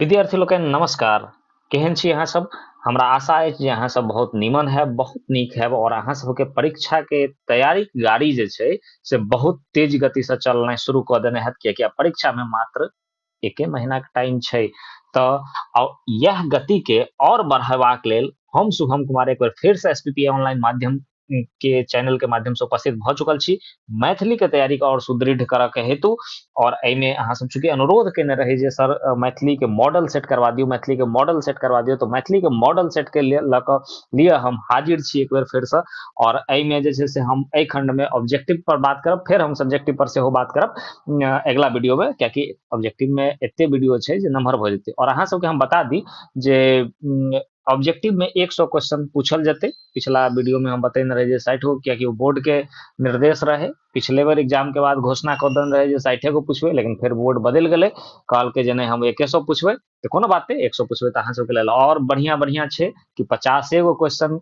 विद्यार्थी लोकनि नमस्कार केहन छी अहाँ सब हमरा आशा अछि जे अहाँ सब बहुत नीमन हैब बहुत नीक हैब और अहाँ सबके परीक्षा के तैयारी गाड़ी जे छै से बहुत तेज गति से चलनाइ शुरू कऽ देने हैत कियाकि आब परीक्षा में मात्र एके महीना के टाइम छै तऽ यह गति के और बढ़ेबाक लेल हम शुभम कुमार एक बेर फेर से एस पी पी ऑनलाइन माध्यम के चैनल के माध्यम से उपस्थित भ चुकल छी मैथिली के तैयारी के और सुदृढ़ करऽ के हेतु और एमे अहाँ सब चूंकि अनुरोध केने रही जे सर मैथिली के मॉडल सेट करवा दियो मैथिली के मॉडल सेट करवा दियो तो मैथिली के मॉडल सेट के लिए लऽ कऽ लिए हम हाजिर छी एक बेर फेर से और एमे जे छै से हम एहि खंड में ऑब्जेक्टिव पर बात करब फेर हम सब्जेक्टिव पर सेहो बात करब अ, अगिला वीडियो में कियाकि ऑब्जेक्टिव में एते वीडियो छै जे नमहर भऽ जेतै और अहाँ सबके हम बता दी जे उम, ऑब्जेक्टिव में 100 क्वेश्चन पूछल जते पिछला वीडियो में हम बतैन रहे जे साठि गो कियाकि वो बोर्ड के निर्देश रहे पिछले बार एग्जाम के बाद घोषणा कर देन रहे जे साठे गो पूछबे लेकिन फिर बोर्ड बदल गए कहल के जे हम एक सौ पूछबे तो कोनो बात नहीं एक सौ पूछबे तो अहाँ सबके लेल और बढ़िया बढ़िया है कि पचासे गो क्वेश्चन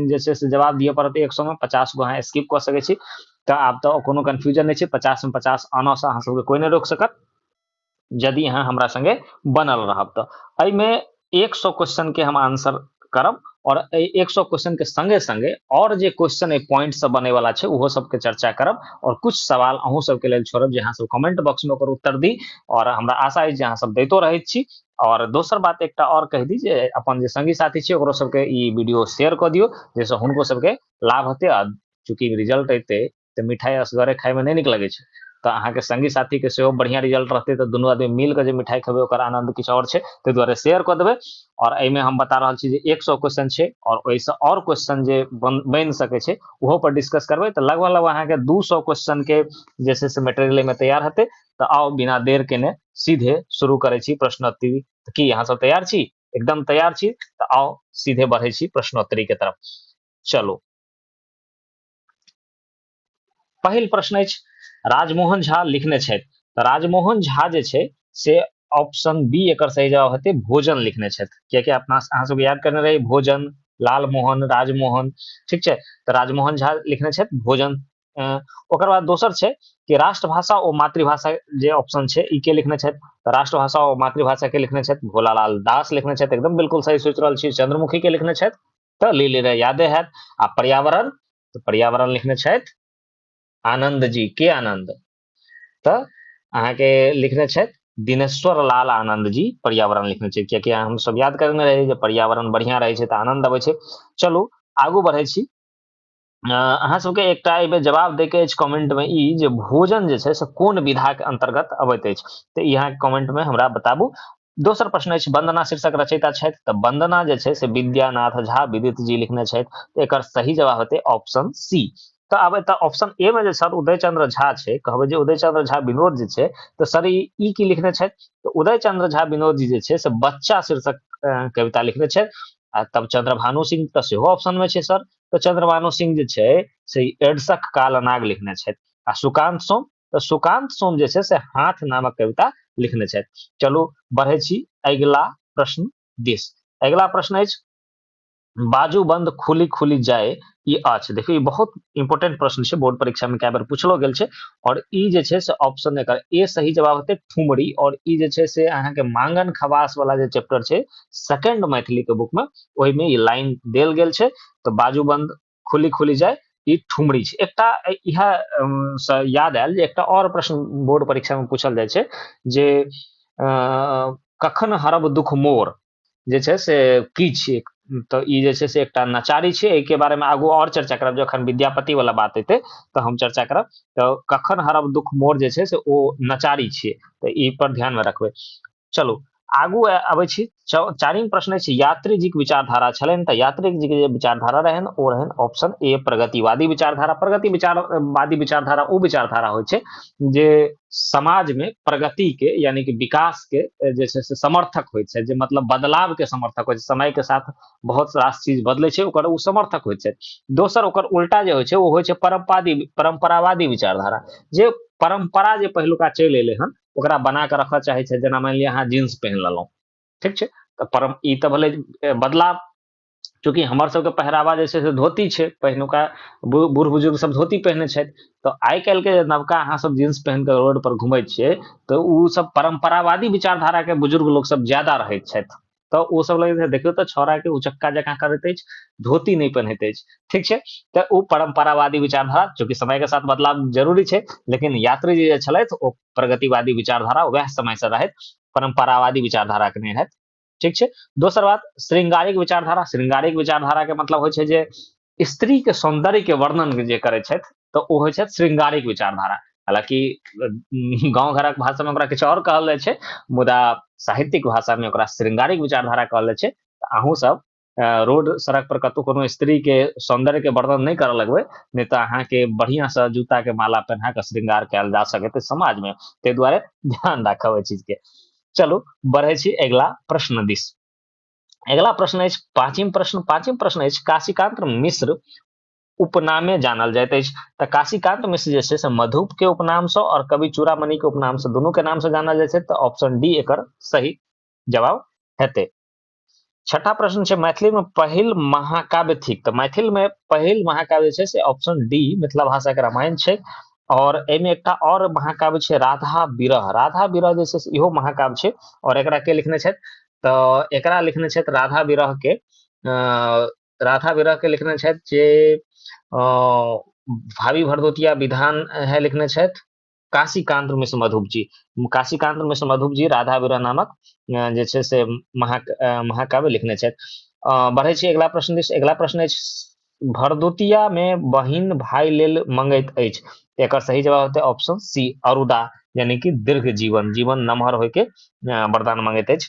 जैसे से जवाब दिए पड़त एक सौ में पचास गो अहाँ स्किप कर सके तो आब तो कोनो कन्फ्यूजन नहीं है पचास में पचास आना से अहाँ सबके कोई नहीं रोक सकत यदि अहाँ हमरा संगे बनल रहब तऽ एहिमे एक सौ क्वेश्चन के हम आंसर करब और एक सौ क्वेश्चन के संगे संगे और जे क्वेश्चन ए पॉइंट सब बने वाला छै ओहो सब के चर्चा करब और कुछ सवाल अहूँ सब के लेल छोड़ब जे अहाँ सब कमेंट बॉक्स में ओकर उत्तर दी और हमरा आशा अछि जे अहाँ सब दैतो रहै छी और दोसर बात एकटा और कह दी जे अपन जे संगी साथी छै ओकरो सबके ई वीडियो शेयर कऽ दियौ जाहिसँ हुनको सबके लाभ हेतै आ चूँकि रिजल्ट एतै तऽ मिठाइ असगरे खाइमे नहि नीक लगै छै तऽ अहाँके सङ्गी साथीके सेहो बढ़िआँ रिजल्ट रहतै तऽ दुनू आदमी मिलकऽ जे मिठाइ खेबै ओकर आनन्द किछु आओर छै ताहि दुआरे शेयर कऽ देबै आओर एहिमे हम बता रहल छी जे एक सए क्वेश्चन छै आओर ओहिसँ आओर क्वेश्चन जे बन बनि सकै छै ओहोपर डिस्कस करबै तऽ लगभग लगभग अहाँके दू सए क्वेश्चनके जे छै से मेटेरियल एहिमे तैयार हेतै तऽ आउ बिना देर केने सीधे शुरू करै छी प्रश्नोत्तरी तऽ की अहाँसभ तैयार छी एकदम तैयार छी तऽ आउ सीधे बढ़ै छी प्रश्नोत्तरीके तरफ चलू पहिल प्रश्न अछि राजमोहन झा लिखने छथि तऽ राजमोहन झा जे छै से ऑप्शन बी एकर सही जवाब हेतै भोजन लिखने छथि कियाकि अपना अहाँ सबके याद करने रही भोजन लालमोहन राजमोहन ठीक छै तऽ राजमोहन झा लिखने छथि भोजन ओकर बाद दोसर छै कि राष्ट्रभाषा ओ मातृभाषा जे ऑप्शन छै ई के लिखने छथि तऽ राष्ट्रभाषा ओ मातृभाषा के लिखने छथि भोलालाल दास लिखने छथि एकदम बिल्कुल सही सोचि रहल छी चंद्रमुखी के लिखने छथि तऽ ली लेने यादे हैत आ पर्यावरण तऽ पर्यावरण लिखने छथि आनंद जी के आनंद तऽ अहाँके लिखने छथि दिनेश्वर लाल आनंद जी पर्यावरण लिखने छै कियाकि हम सब याद करने रही जे पर्यावरण बढ़िया रहै छै तऽ आनंद अबै छै चलू आगू बढ़ै छी अहाँ सबके एकटा एहिमे जवाब दैके अछि कमेंटमे ई जे भोजन जे छै से कोन विधाके अंतर्गत अबैत अछि तऽ ई अहाँके कमेंटमे हमरा बताबू दोसर प्रश्न अछि वंदना शीर्षक रचयिता छथि तऽ वंदना जे छै से विद्यानाथ झा विदित जी लिखने छथि तऽ एकर सही जवाब हेतै ऑप्शन सी तऽ आब एतऽ ऑप्शन ए मे जे सर उदय चंद्र झा छै कहबै जे उदय चंद्र झा विनोद जी छै तऽ सर ई की लिखने छथि तऽ उदय चंद्र झा विनोद जी जे छै से बच्चा शीर्षक कविता लिखने छथि आ तब चंद्रभानु सिंह तऽ सेहो ऑप्शन में छै सर तऽ चंद्रभानु सिंह जे छै से एडसक काल अनाग लिखने छथि आ सुकांत सोम तऽ सुकांत सोम जे छै से हाथ नामक कविता लिखने छथि चलू बढ़ै छी अगिला प्रश्न दिस अगिला प्रश्न अछि बाजू बंद खुली खुली जाए ई अछि देखियौ ई बहुत इंपोर्टेंट प्रश्न छै बोर्ड परीक्षा में कए बेर पूछलो गेल छै और ई जे छै से ऑप्शन एकर ए सही जवाब हेतै ठुमरी और ई जे छै से अहाँके मांगन खवास वाला जे चैप्टर छै सेकंड मैथिली के बुक में ओहिमे ई लाइन देल गेल छै तऽ बाजूबंद खुली खुली जाय ई ठुमरी छै एकटा इएह से याद आयल जे एकटा आओर प्रश्न बोर्ड परीक्षामे पूछल जाइ छै जे कखन हरब दुख मोर जे छै से की छियै तऽ ई जे छै से एकटा नचारी छै एहिके बारेमे आगू आओर चर्चा करब जखन विद्यापतिवला बात एतै तऽ हम चर्चा करब तऽ कखन हरब दुख मोर जे छै से ओ नचारी छियै तऽ ई पर ध्यानमे रखबै चलू आगू अबै छी चारिम प्रश्न अछि यात्रीजीक विचारधारा छलनि तऽ यात्रीजीके जे विचारधारा रहनि ओ रहनि ऑप्शन ए प्रगतिवादी विचारधारा प्रगति विचारवादी विचारधारा ओ विचारधारा होइ छै जे समाजमे प्रगतिके यानि कि विकासके जे छै से समर्थक होइ छै जे मतलब बदलावके समर्थक होइ छै समयके साथ बहुत रास चीज बदलै छै ओकर ओ समर्थक होइ छै दोसर ओकर उल्टा जे होइ छै ओ होइ छै परम्पादी परम्परावादी विचारधारा जे परम्परा जे पहिलुका चलि एलै हन ओकरा बना कऽ रखय चाहै छै जेना मानि लिअ अहाँ जींस पहिन लेलहुँ ठीक छै तऽ परम ई तऽ भेलै बदलाव चूँकि हमर सबके पहिरावा जे छै से धोती छै पहिनुका बूढ़ बुजुर्ग सब धोती पहिने छथि तऽ आइ काल्हिके जे नवका अहाँ सब जींस पहिन कऽ रोड पर घुमै छियै तऽ ओ सब परम्परावादी विचारधाराके बुजुर्ग लोक सब ज्यादा रहैत छथि तऽ ओ सब लगैत देखियौ तऽ छौड़ा के उचक्का जकाँ करैत अछि धोती नहि पहनैत अछि ठीक छै तऽ ओ परम्परावादी विचारधारा चूँकि समय के साथ बदलाव जरूरी छै लेकिन यात्री जी जे छलथि ओ प्रगतिवादी विचारधारा वएह समय से रहथि परम्परावादी विचारधारा के नहि रहथि ठीक छै दोसर बात श्रृंगारिक विचारधारा श्रृंगारिक विचारधारा के मतलब होइ छै जे स्त्री के सौंदर्य के वर्णन जे करै छथि तऽ ओ होइ छथि श्रृंगारिक विचारधारा हालांकि गाँव घरक भाषा में ओकरा किछु आओर कहल जाइ छै मुदा साहित्यिक भाषा में ओकरा श्रृंगारिक विचारधारा कहल जाइ छै अहूँ सब रोड सड़क पर कतहु कोनो स्त्री के सौंदर्य के वर्णन नहीं करऽ लगबै नहीं तऽ अहाँ के बढ़िया से जूता के माला पहना के श्रृंगार कयल जा सकते समाज में ताहि दुआरे ध्यान राखब एहि चीज के चलू बढ़े छी अगिला प्रश्न दिस अगिला प्रश्न अछि पाँचिम प्रश्न पाँचिम प्रश्न अछि काशीकांत मिश्र उपनामे जानल जाइत अछि तऽ काशीकांत मिश्र जे छै से मधुप के उपनाम से और कवि चूड़ामणि के उपनाम से दुनू के नाम से जानल जाइत छै तऽ ऑप्शन डी एकर सही जवाब हेतै छठा प्रश्न छै मैथिली में पहिल महाकाव्य थिक तऽ मैथिल में पहिल महाकाव्य छै से ऑप्शन डी मिथिला भाषा के रामायण छै और एहिमे एकटा और महाकाव्य छै राधा विरह राधा विरह जे छै से इहो महाकाव्य छै और एकरा के लिखने छथि तऽ एकरा लिखने छथि राधा विरहके राधा विरहके लिखने छथि जे भावी भरदोतिया विधान है लिखने छथि काशीकांत मिश्र मधुप जी काशीकांत मिश्र मधुप जी राधा विरह नामक जे छै से महा महाकाव्य लिखने छथि बढ़ै छी अगिला प्रश्न दिस अगिला प्रश्न अछि भरदुतिया में बहिन भाई लेल मंगैत अछि एकर सही जवाब होते ऑप्शन सी अरुदा यानी कि दीर्घ जीवन जीवन नमहर होय के वरदान मंगैत अछि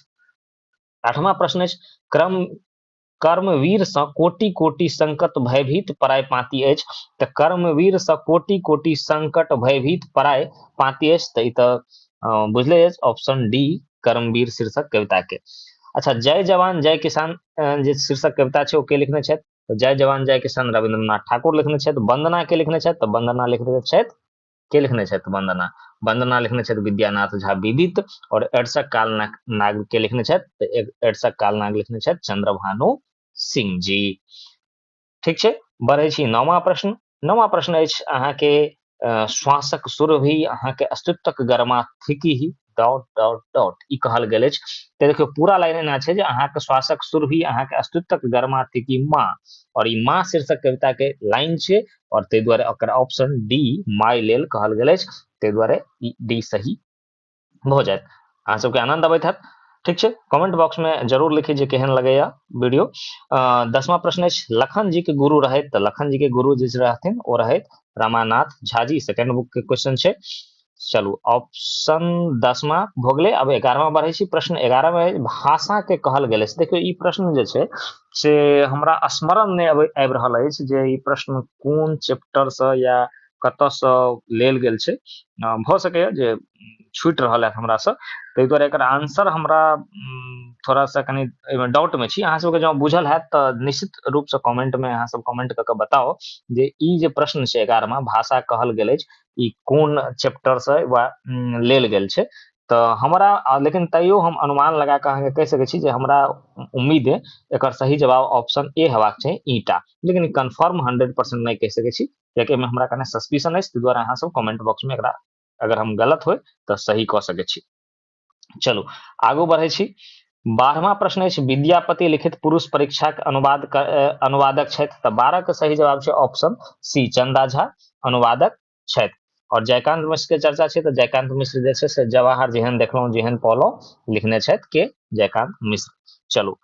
आठवां प्रश्न अछि क्रम कर्मवीर से कोटि कोटि संकट भयभीत पराय पाती अछि तऽ कर्मवीर से कोटि कोटि संकट भयभीत पराय पाती अछि तऽ ई तऽ बुझले अछि ऑप्शन डी कर्मवीर शीर्षक कविता के अच्छा जय जवान जय किसान जे शीर्षक कविता छै ओ के लिखने छथि तऽ जय जवान जय किसान रविन्द्रनाथ ठाकुर लिखने छथि वंदना के लिखने छथि तऽ वंदना लिखने छथि के लिखने छथि वंदना वंदना लिखने छथि विद्यानाथ झा विदित और एडसक काल नाग के लिखने छथि तऽ एडसक काल नाग लिखने छथि चंद्रभानु सिंह जी ठीक छै बढ़ै छी नवा प्रश्न नवा प्रश्न अछि अहाँके श्वासक सुर भी अहाँके अस्तित्वक गरमा थिकी ही डॉट डॉट डॉट ई कहल गेल अछि तऽ देखियौ पूरा लाइन एना छै जे अहाँके श्वासक सुर भी अहाँके अस्तित्वक गरमा थिकी माँ और ई माँ शीर्षक कविता के लाइन छै और ताहि दुआरे ओकर ऑप्शन डी माय लेल कहल गेल अछि ताहि दुआरे ई डी सही भऽ जायत अहाँ सबके आनंद अबैत हैत ठीक छै कमेंट बॉक्स में जरूर लिखी जे केहन लगैया वीडियो दसवा प्रश्न अछि लखन जी के गुरु रहैत तऽ लखन जी के गुरु जे रहथिन ओ रहैत रामानाथ झा जी सेकेंड बुक के क्वेश्चन छै चलू ऑप्शन दसमा भऽ गेलै आब एगारहमा बढ़ै छी प्रश्न एगारहमे भाषाके कहल गेल अछि देखियौ ई प्रश्न जे छै से हमरा स्मरण नहि अबै आबि रहल अछि जे ई प्रश्न कोन चैप्टरसँ या कतऽ सँ लेल गेल छै भऽ सकैए जे छुटि रहल हैत हमरासँ ताहि दुआरे एकर आन्सर हमरा थोड़ा सा कनि एहिमे डाउटमे छी अहाँ सबके जँ बुझल हैत तऽ निश्चित रूपसँ कमेन्टमे अहाँ सब कमेन्ट कऽ कऽ बताउ जे ई जे प्रश्न छै एगारहमा भाषा कहल गेल अछि ई कोन चैप्टरसँ वा लेल गेल छै तऽ हमरा लेकिन तैयो हम अनुमान लगा कऽ अहाँके कहि सकै छी जे हमरा उम्मीद अइ एकर सही जवाब ऑप्शन ए हेबाक चाही ईटा लेकिन कन्फर्म हंड्रेड परसेंट नहि कहि सकै छी कियाकि एहिमे हमरा कने सस्पिशन अछि ताहि दुआरे अहाँ सब कमेंट बॉक्स में एकरा अगर हम गलत होय तो सही क सके छी चलू आगू बढ़े छी बारहवा प्रश्न अछि विद्यापति लिखित पुरुष परीक्षा के अनुवाद अनुवादक छथि तऽ बारह के सही जवाब छै ऑप्शन सी चंदा झा अनुवादक छथि और जयकांत मिश्र के चर्चा छै तऽ जयकांत मिश्र जे छै से जवाहर जेहन देखलहुँ जेहन पौलहुँ लिखने छथि के जयकांत मिश्र चलू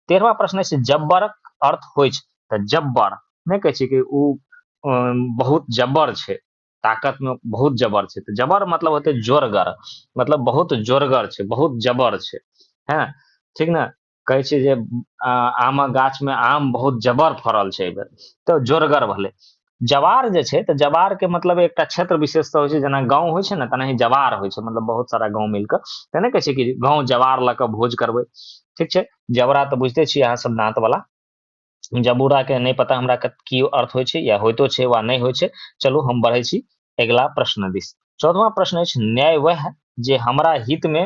तेरहवा प्रश्न अछि जब्बरक अर्थ होइ छै तऽ जब्बर नहि कहै छै कि ओ बहुत जब्बर छै ताकतमे बहुत जबर छै तऽ जबर मतलब होतै जोरगर मतलब बहुत जोरगर छै बहुत जबर छै हँ ठीक ने कहै छै जे आमक गाछमे आम बहुत जबर फड़ल छै एहि बेर तऽ जोरगर भेलै जवार जे छै तऽ जवारके मतलब एकटा क्षेत्र विशेषता होइ छै जेना गाँव होइ छै ने तेनाही जवार होइ छै मतलब बहुत सारा गाँव मिलि कऽ तऽ नहि कहै छै कि गाँव जवार लऽ कऽ भोज करबै ठीक छै जबरा तऽ बुझिते छियै अहाँसभ दाँतवला जबूराके नहि पता हमरा की अर्थ होइ छै या होइतो छै वा नहि होइ छै चलू हम बढ़ै छी अगिला प्रश्न दिस चौदवा प्रश्न अछि न्याय वह जे हमरा हितमे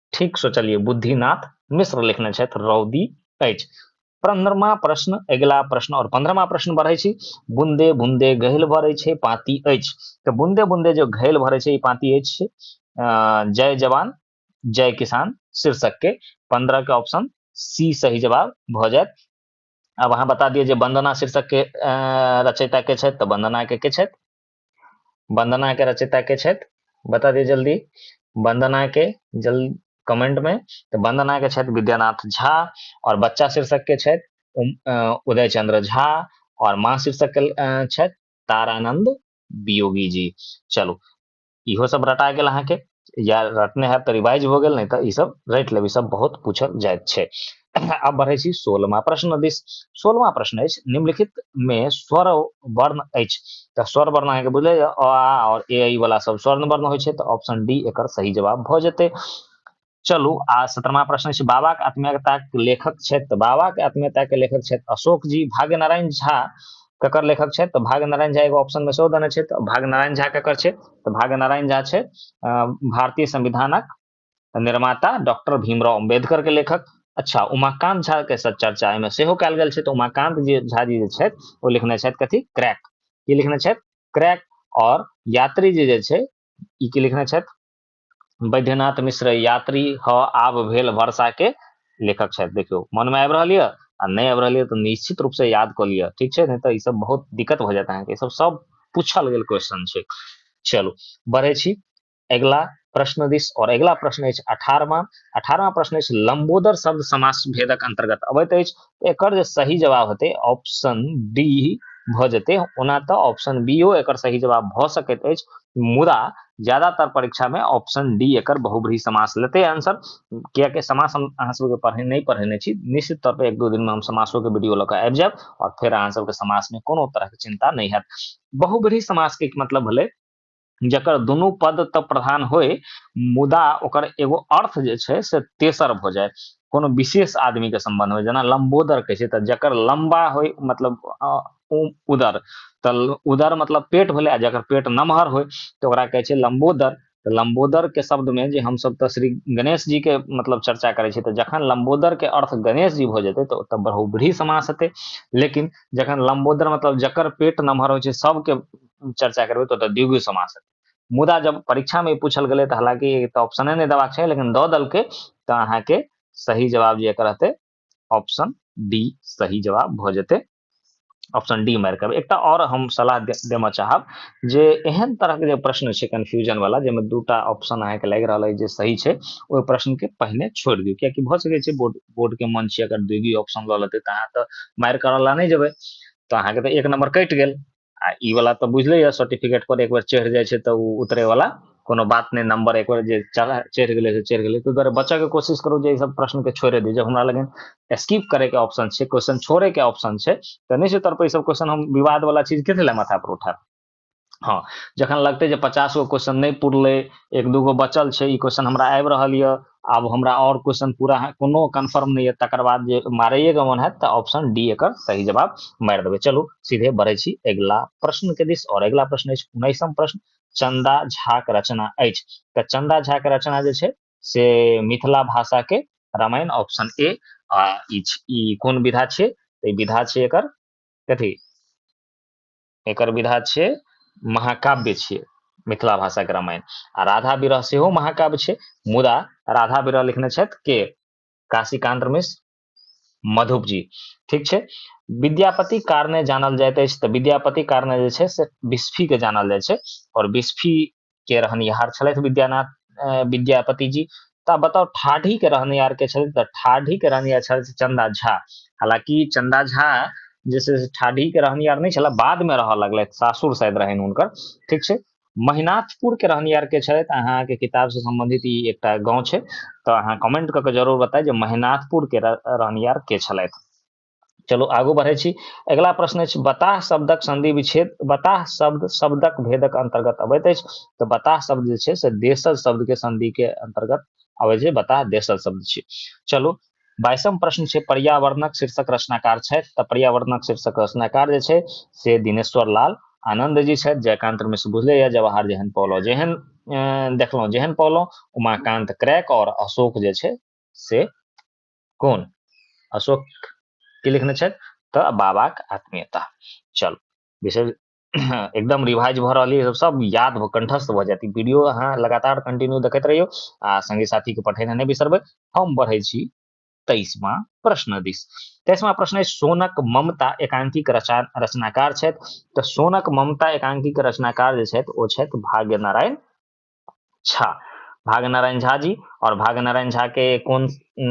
ठीक सोचलिए बुद्धिनाथ मिश्र लिखने छथि रौदी अछि पंद्रमा प्रश्न अगिला प्रश्न और पंद्रमा प्रश्न बढ़े छी बुंदे बुंदे गहिल भरे छे पाती अछि तो बुंदे बुंदे जो घैल भरे छे पाती अछि जय जवान जय किसान शीर्षक के पंद्रह के ऑप्शन सी सही जवाब भ जायत अब अहाँ बता दिए जे वंदना शीर्षक के रचयिता के छथि तऽ वंदना के के छथि वंदना के रचिता के छथि बता दिए जल्दी वंदना के जल कमेंट में तो वंदना के छथि विद्यानाथ झा और बच्चा शीर्षक के छथि उदय चंद्र झा और माँ शीर्षक के छथि तारानंद वियोगी जी चलो इहो सब रटा गया अहाँ के या रटने है तऽ रिवाइज हो गेल नहीं तऽ ई सब रट लेब ई सब बहुत पूछल जाए छै आब बढ़े छी सोलमा प्रश्न दिस सोलमा प्रश्न अछि निम्नलिखित में स्वर वर्ण अछि तऽ स्वर वर्ण अहाँके बुझले अ आ और ए आई वाला सब स्वर्ण वर्ण होइ छै तऽ ऑप्शन डी एक सही जवाब भ जेते चलू आ सत्तरमा प्रश्न छै बाबाके आत्मीयताक लेखक छथि बाबाके आत्मीयताके लेखक छथि अशोक जी भाग्य नारायण झा ककर लेखक छथि तऽ भाग नारायण झा एगो ऑप्शन में सेहो देने छथि तऽ भाग नारायण झा ककर छथि तऽ भाग नारायण झा छथि भारतीय संविधानक निर्माता डॉक्टर भीमराव अम्बेडकर के लेखक अच्छा उमाकांत झा के साथ चर्चा एहिमे सेहो कयल गेल छै तऽ उमाकांत जी झा जी जे छथि ओ लिखने छथि कथी क्रैक की लिखने छथि क्रैक और यात्री जी जे छै ई की लिखने छथि बैद्यनाथ मिश्र यात्री ह आब भेल वर्षा के लेखक छथि देखियौ मनमे आबि रहल यऽ आ नहि आबि रहल यऽ तऽ निश्चित रूपसँ याद कऽ लिअ ठीक छै नहि तऽ ईसभ बहुत दिक्कत भऽ जायत अहाँके ईसभ सभ पूछल गेल क्वेश्चन छै चलू बढ़ै छी अगिला प्रश्न दिस और अगिला प्रश्न अछि अठारहवां अठारहवां प्रश्न अछि लंबोदर शब्द समास भेदक अंतर्गत अबैत अछि एकर जे सही जवाब हेतै ऑप्शन बी भऽ जेतै ओना तऽ ऑप्शन बीओ एकर सही जवाब भऽ सकैत अछि मुदा ज्यादातर परीक्षामे ऑप्शन डी एकर बहुब्री समास लेतै आंसर किएकि समास हम अहाँ सबके पढ़े नहि पढ़ेने छी निश्चित तौर पर एक दू दिनमे हम समासोके वीडियो लऽ कऽ आबि जायब आओर फेर अहाँ सबके समासमे कोनो तरहके चिन्ता नहि हैत बहुब्री समासके मतलब भेलै जकर दुनू पद तऽ प्रधान होय मुदा ओकर एगो अर्थ जे छै से तेसर भऽ जाय कोनो विशेष आदमीके सम्बन्ध होय जेना लम्बोदर कहै छै तऽ जकर लम्बा होय मतलब उदर तऽ उदर मतलब पेट भेलै आ जकर पेट नमहर होय तऽ ओकरा कहै छै लम्बोदर तऽ लम्बोदरके शब्दमे जे हमसभ तऽ श्री गणेश जीके मतलब चर्चा करै छी तऽ जखन लम्बोदरके अर्थ गणेश जी भऽ जेतै तऽ ओतऽ बहुब्रीही समास हेतै लेकिन जखन लम्बोदर मतलब जकर पेट नमहर होइ छै सभके चर्चा करबै तऽ ओतऽ द्विगु समास हेतै मुदा जब परीक्षामे ई पूछल गेलै तऽ हालांकि तऽ ऑप्शने नहि देबाक छै लेकिन दऽ देलकै तऽ अहाँके सही जवाब जे एकर रहतै ऑप्शन डी सही जवाब भऽ जेतै ऑप्शन डी मारि कऽ एकटा आओर हम सलाह देबऽ चाहब जे एहन तरहके जे प्रश्न छै कन्फ्यूजन वाला जाहिमे दूटा ऑप्शन अहाँके लागि रहल अछि जे सही छै ओहि प्रश्नके पहिने छोड़ि दियौ कियाकि भऽ सकै छै बोर्ड बोर्डके मन छै अगर दुइगी ऑप्शन लऽ लेतै तऽ अहाँ तऽ मारि करऽ ला नहि जेबै तऽ अहाँके तऽ एक नम्बर कटि गेल आ ई वाला तऽ बुझले यऽ सर्टिफिकेट पर एक बेर चढ़ि जाइ छै तऽ ओ उतरे वाला कोनो बात नहि नंबर एक बेर जे चढ़ा चढ़ि गेलै से चढ़ि गेलै ताहि दुआरे बचयके कोशिश करू जे ई सब प्रश्नके छोड़ि दियौ जब हमरा लग स्किप करयके ऑप्शन छै क्वेश्चन छोड़यके ऑप्शन छै तऽ नहि छै तर ई सब क्वेश्चन हम विवाद वाला चीज किस लए माथा पर उठायब हँ जखन लगतै जे पचास गो क्वेश्चन नहि पुरलै एक दूगो बचल छै ई क्वेश्चन हमरा आबि रहल यऽ आब हमरा आओर क्वेश्चन पूरा कोनो कन्फर्म नहि यऽ तकर बाद जे मारैएके मन हैत तऽ ऑप्शन डी एकर सही जवाब मारि देबै चलू सीधे बढ़ै छी अगिला प्रश्नके दिस आओर अगिला प्रश्न अछि उन्नैसम प्रश्न चंदा झाक रचना अछि तऽ चंदा झाक रचना जे छै से मिथिला भाषाके रामायण ऑप्शन ए आ ई कोन विधा छै तऽ विधा छै एकर कथी एकर विधा छियै महाकाव्य छियै मिथिला भाषाके रामायण आ राधा विरह सेहो महाकाव्य छै मुदा राधा विरह लिखने छथि के काशीकांत मिश्र मधुप जी ठीक छै विद्यापति कारणे जानल जाइत अछि तऽ विद्यापति कारणे जे छै से बिस्फीके जानल जाइ छै आओर बिस्फी के रहनिहार छलथि विद्यानाथ विद्यापति जी तऽ आब बताउ ठाढ़ी के रहनिहार के छलथि तऽ ठाढ़ी के रहनिहार छलथि चंदा झा हालांकि चंदा झा जे छै से ठाढ़ी के रहनिहार नहि छला बाद में रहऽ लगलथि सासुर शायद रहनि हुनकर ठीक छै महिनाथपुर के रहनिहार के छथि अहाँके किताब से संबंधित ई एकटा गाँव छै तऽ अहाँ कमेंट कऽ के जरूर बताय जे महिनाथपुर के रहनिहार के छलथि चलो आगू बढ़े छी अगला प्रश्न अछि बताह शब्दक संधि विच्छेद बताह शब्द शब्दक भेदक अंतर्गत अबैत अछि तऽ बताह शब्द जे छै से देशज शब्द के संधि के अंतर्गत अबै छै बताह देशज शब्द छै चलो बाईसम प्रश्न छै पर्यावरणक शीर्षक रचनाकार छथि तऽ पर्यावरणक शीर्षक रचनाकार जे छै से दिनेश्वर लाल आनंद जी छथि जयकांत मिश्र बुझले या जवाहर जेहन पौलो जेहन देखलहुँ जेहन पौलो उमाकांत क्रैक और अशोक जे छै से कोन अशोक की लिखने छथि तऽ बाबाक आत्मीयता चल विशेष एकदम रिवाइज भऽ रहल यऽ सब याद भऽ कंठस्थ भऽ जायत ई वीडियो अहाँ लगातार कंटिन्यू देखैत रहियौ आ संगी साथीके पठेनाइ नहि बिसरबै हम बढ़ै छी तेईसवा प्रश्न दिस तेईसवा प्रश्न अछि सोनक ममता एकांकीक रचा रचनाकार छथि तऽ सोनक ममता एकांकीक रचनाकार जे छथि ओ छथि भाग्य नारायण झा भागनारायण झा जी और भागनारायण झा के कौन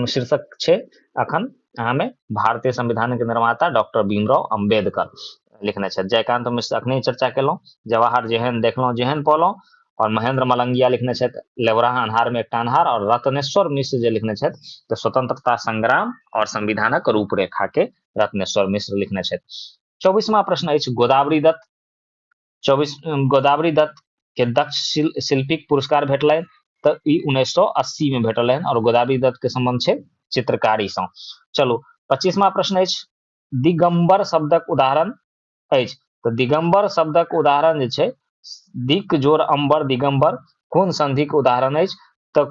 शीर्षक छे अखन हमें भारतीय संविधान के निर्माता डॉक्टर भीमराव अंबेडकर लिखने छे जयकांत मिश्र अखने चर्चा केलो जवाहर जेहन देखलो जेहन पोलो और महेंद्र मलंगिया लिखने छे लेवराह अन्हार में एकटा अन्हार और रत्नेश्वर मिश्र जे लिखने छे तो स्वतंत्रता संग्राम और संविधानक रूपरेखा के रत्नेश्वर मिश्र लिखने छे चौबीसवा प्रश्न अछि गोदावरी दत्त चौबीस गोदावरी दत्त के दक्ष शिल, शिल्पीक पुरस्कार भेटलनि तऽ ई उन्नैस सौ अस्सी में भेटल रहनि और गोदावरी दत्त के संबंध छै चित्रकारी सँ चलू पच्चीसवा प्रश्न अछि दिगंबर शब्दक उदाहरण अछि तऽ दिगंबर शब्दक उदाहरण जे छै दिक जोर अंबर दिगंबर कोन संधिक उदाहरण अछि तऽ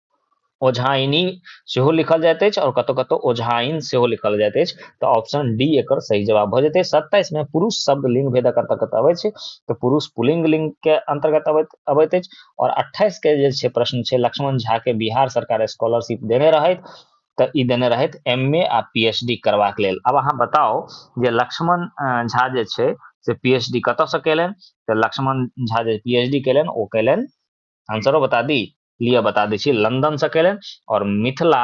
ओझाइनी सेहो लिखल जाइत अछि आओर कतौ कतौ ओझाइन सेहो लिखल जाइत अछि तऽ ऑप्शन डी एकर सही जवाब भऽ जेतै सत्ताइस मे पुरुष शब्द लिंग भेदक अंतर्गत अबै छै तऽ पुरुष पुलिंग लिंग के अंतर्गत अबैत अबैत अछि आओर अट्ठाइस के जे छै प्रश्न छै लक्ष्मण झा के बिहार सरकार स्कॉलरशिप देने रहैत तऽ ई देने रहैत एम ए आ पी एच डी करबाक लेल आब अहाँ बताउ जे लक्ष्मण झा जे छै से पी एच डी कतऽसँ केलनि तऽ लक्ष्मण झा जे पी एच डी केलनि ओ केलनि आंसरो बता दी लिए बता दै छी लंदन से कयलनि और मिथिला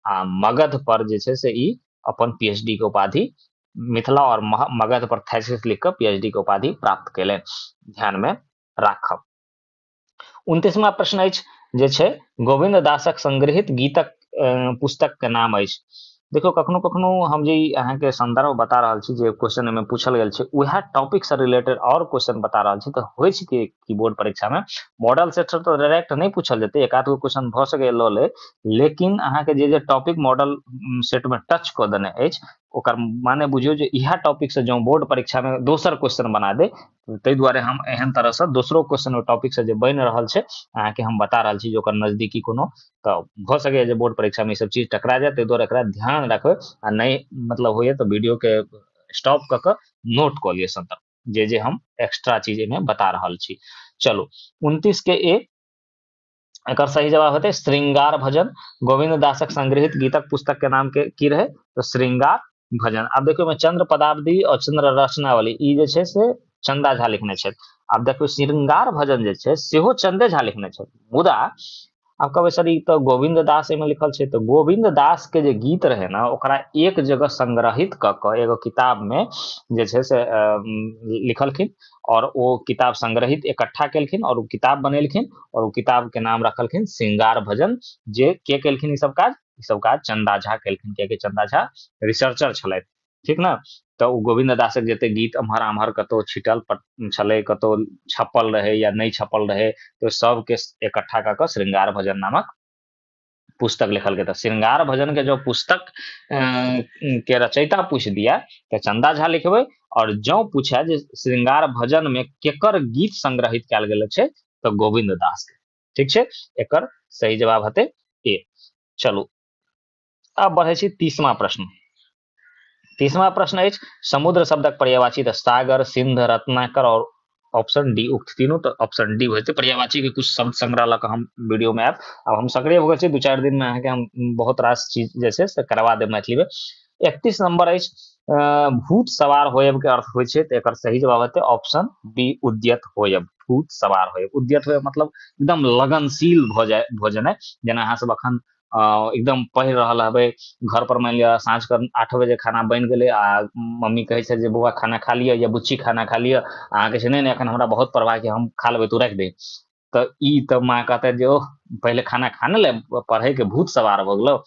आ मगध पर जे छै से ई अपन पीएचडी के उपाधि मिथिला और मगध पर थैसिस लिख कऽ पीएचडी के उपाधि प्राप्त कयलनि ध्यान में राखब उनतीसवा प्रश्न अछि जे छै गोविंद दासक संग्रहित गीतक पुस्तक के नाम अछि देखियौ कखनो कखनो हम जे अहाँके संदर्भ बता रहल छी जे क्वेश्चन एहिमे पूछल गेल छै उएह टॉपिक से रिलेटेड और क्वेश्चन बता रहल छी तऽ होइ छै कि कीबोर्ड परीक्षा में मॉडल सेट से तो डायरेक्ट नहीं पूछल जेतै एक आध गो क्वेश्चन भऽ सके लऽ ले लेकिन अहाँके जे जे टॉपिक मॉडल सेट में टच कऽ देने अछि ओकर माने बुझियौ जे इएह टॉपिक से जँ बोर्ड परीक्षा में दोसर क्वेश्चन बना दे ताहि दुआरे हम एहन तरह से दोसरो क्वेश्चन ओ टॉपिक से जे बनि रहल छै अहाँके हम बता रहल छी जे ओकर नजदीकी कोनो तऽ भऽ सकैए जे बोर्ड परीक्षामे ईसब चीज टकरा जाए ताहि दुआरे एकरा ध्यान राखबै आ नहि मतलब होइए तऽ वीडियोके स्टॉप कऽ कऽ नोट कऽ लिअ सन्तर जे जे हम एक्स्ट्रा चीज एहिमे बता रहल छी चलू उनतीसके ए एकर सही जवाब हेतै श्रृंगार भजन गोविंद दासक संग्रहित गीतक पुस्तक के नाम के की रहे तो श्रृंगार भजन आब देखियौ ओहिमे चंद्र पदावली और चंद्र रचनावली ई जे छै से चंदा झा लिखने छथि आब देखियौ श्रृंगार भजन जे छै सेहो चंदे झा लिखने छथि मुदा आब कहबै सर ई तऽ गोविंद दास एहिमे लिखल छै तऽ गोविंद दास के जे गीत रहै ने ओकरा एक जगह संग्रहित कऽ कऽ एगो किताब मे जे छै से लिखलखिन और ओ किताब संग्रहित इकट्ठा केलखिन और ओ किताब बनेलखिन और ओ किताब के नाम रखलखिन श्रृंगार भजन जे के केलखिन ई सब काज ई सब काज चंदा झा केलखिन कियाकि चंदा झा रिसर्चर छलथि ठीक ने तऽ ओ गोविंद दासक जते गीत एम्हर आम्हर कतौ छिटल छलै कतौ छपल रहै या नहि छपल रहै तऽ सबके एकट्ठा कऽ कऽ श्रृंगार भजन नामक पुस्तक लिखल गेल श्रृंगार भजन के जो पुस्तक के रचयिता पूछ दिया तो चंदा झा लिखबे और जो पूछा जे श्रृंगार भजन में केकर गीत संग्रहित कल गए तो गोविंद दास के ठीक छै एकर सही जवाब हेतै ए चलू अब बढ़े छी तीसवा प्रश्न तीसवा प्रश्न है समुद्र शब्दक पर्यावाची सागर सिंध रत्नाकर और ऑप्शन डी उक्त तीनों तो ऑप्शन डी हो जाते पर्यावाची के कुछ शब्द संग्रह लग हम वीडियो में आयब अब हम सक्रिय हो गए दू चार दिन में अहाँके हम बहुत रास चीज जैसे से करवा देब मैथिली में एकतीस नंबर अछि भूत सवार होयब के अर्थ होइ छै तऽ एकर सही जवाब हेतै ऑप्शन बी उद्यत होयब भूत सवार होयब उद्यत होयब मतलब एकदम लगनशील भऽ जाय भऽ जेनाइ जेना अहाँ सब अखन एकदम पढ़ि रहल हेबै घर पर मानि लिअ साँझ के आठ बजे खाना बनि गेलै आ मम्मी कहै छै जे बौआ खाना खा लिअ या बुच्ची खाना खा लिअ अहाँके छै नहि एखन हमरा बहुत प्रवाह छै हम खा लेबै तू राखि दे तऽ ई तऽ माँ कहतै जे ओह पहिले खाना खा ने ले पढ़ैके भूत सवार भऽ गेलौ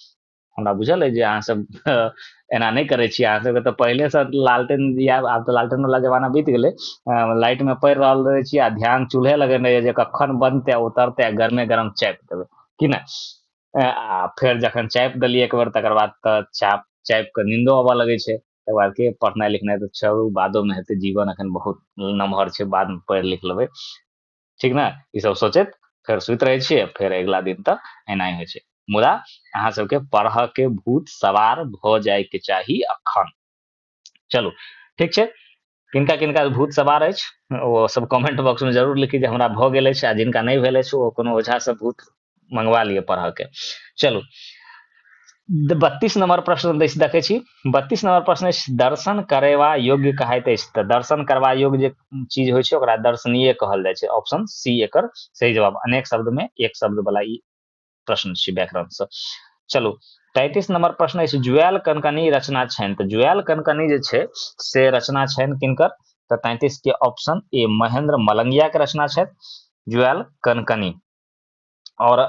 हमरा बुझल अइ जे अहाँ सब एना नहि करै छी अहाँ सबके तऽ पहिलेसँ लालटेन दिया आब तऽ लालटेन वाला जमाना बीत गेलै लाइटमे पड़ि रहल रहै छी आ ध्यान चूल्हे लगेने यए जे कखन बनतै उतरतै आ गरमे गरम चापि देबै कि नहि आ फेर जखन चापि देलियै एक बेर तकर बाद तऽ चाप चापि कऽ नीन्दो अबऽ लगै छै तकर बाद के पढ़नाइ लिखनाइ तऽ छोड़ू बादोमे हेतै जीवन एखन बहुत नमहर छै बादमे पढ़ि लिख लेबै ठीक ने ई सब सोचैत फेर सुति रहै छियै फेर अगिला दिन तऽ एनाही होइ छै मुदा अहाँ सबके पढ़ऽ के भूत सवार भऽ जायके चाही अखन चलू ठीक छै किनका किनका भूत सवार अछि ओ सब कमेंट बॉक्स में जरूर लिखी जे हमरा भऽ गेल अछि आ जिनका नहि भेल अछि ओ कोनो ओझा सब भूत मंगवा लिए पढ़ के चलू बत्तीस नंबर प्रश्न देखे छी बत्तीस नंबर प्रश्न दर्शन करेवा योग्य कहते तो दर्शन करवा योग्य चीज हो दर्शनीय कहल जाए ऑप्शन सी एक सही जवाब अनेक शब्द में एक शब्द वाला प्रश्न व्याकरण से चलू तैतीस नंबर प्रश्न अछि जुएल कनकनी रचना छनि तऽ जुएल कनकनी जे छै से रचना छनि किनकर तऽ तैतीस के ऑप्शन ए महेंद्र मलंगिया के रचना छथि जुएल कनकनी आओर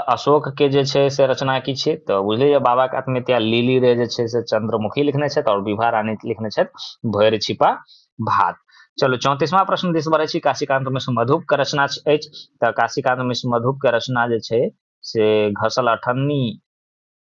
अशोकके जे छै से रचना की छै तऽ बुझलियै बाबाके आत्महत्या लीली रे जे छै से चंद्रमुखी लिखने छथि आओर विभा रानी लिखने छथि भरि छिपा भात चलू चौंतीसवां प्रश्न दिस बढ़ै छी काशीकांत मिश्र मधुप के रचना अछि तऽ काशीकांत मिश्र मधुप के रचना जे छै से घसल अठन्नी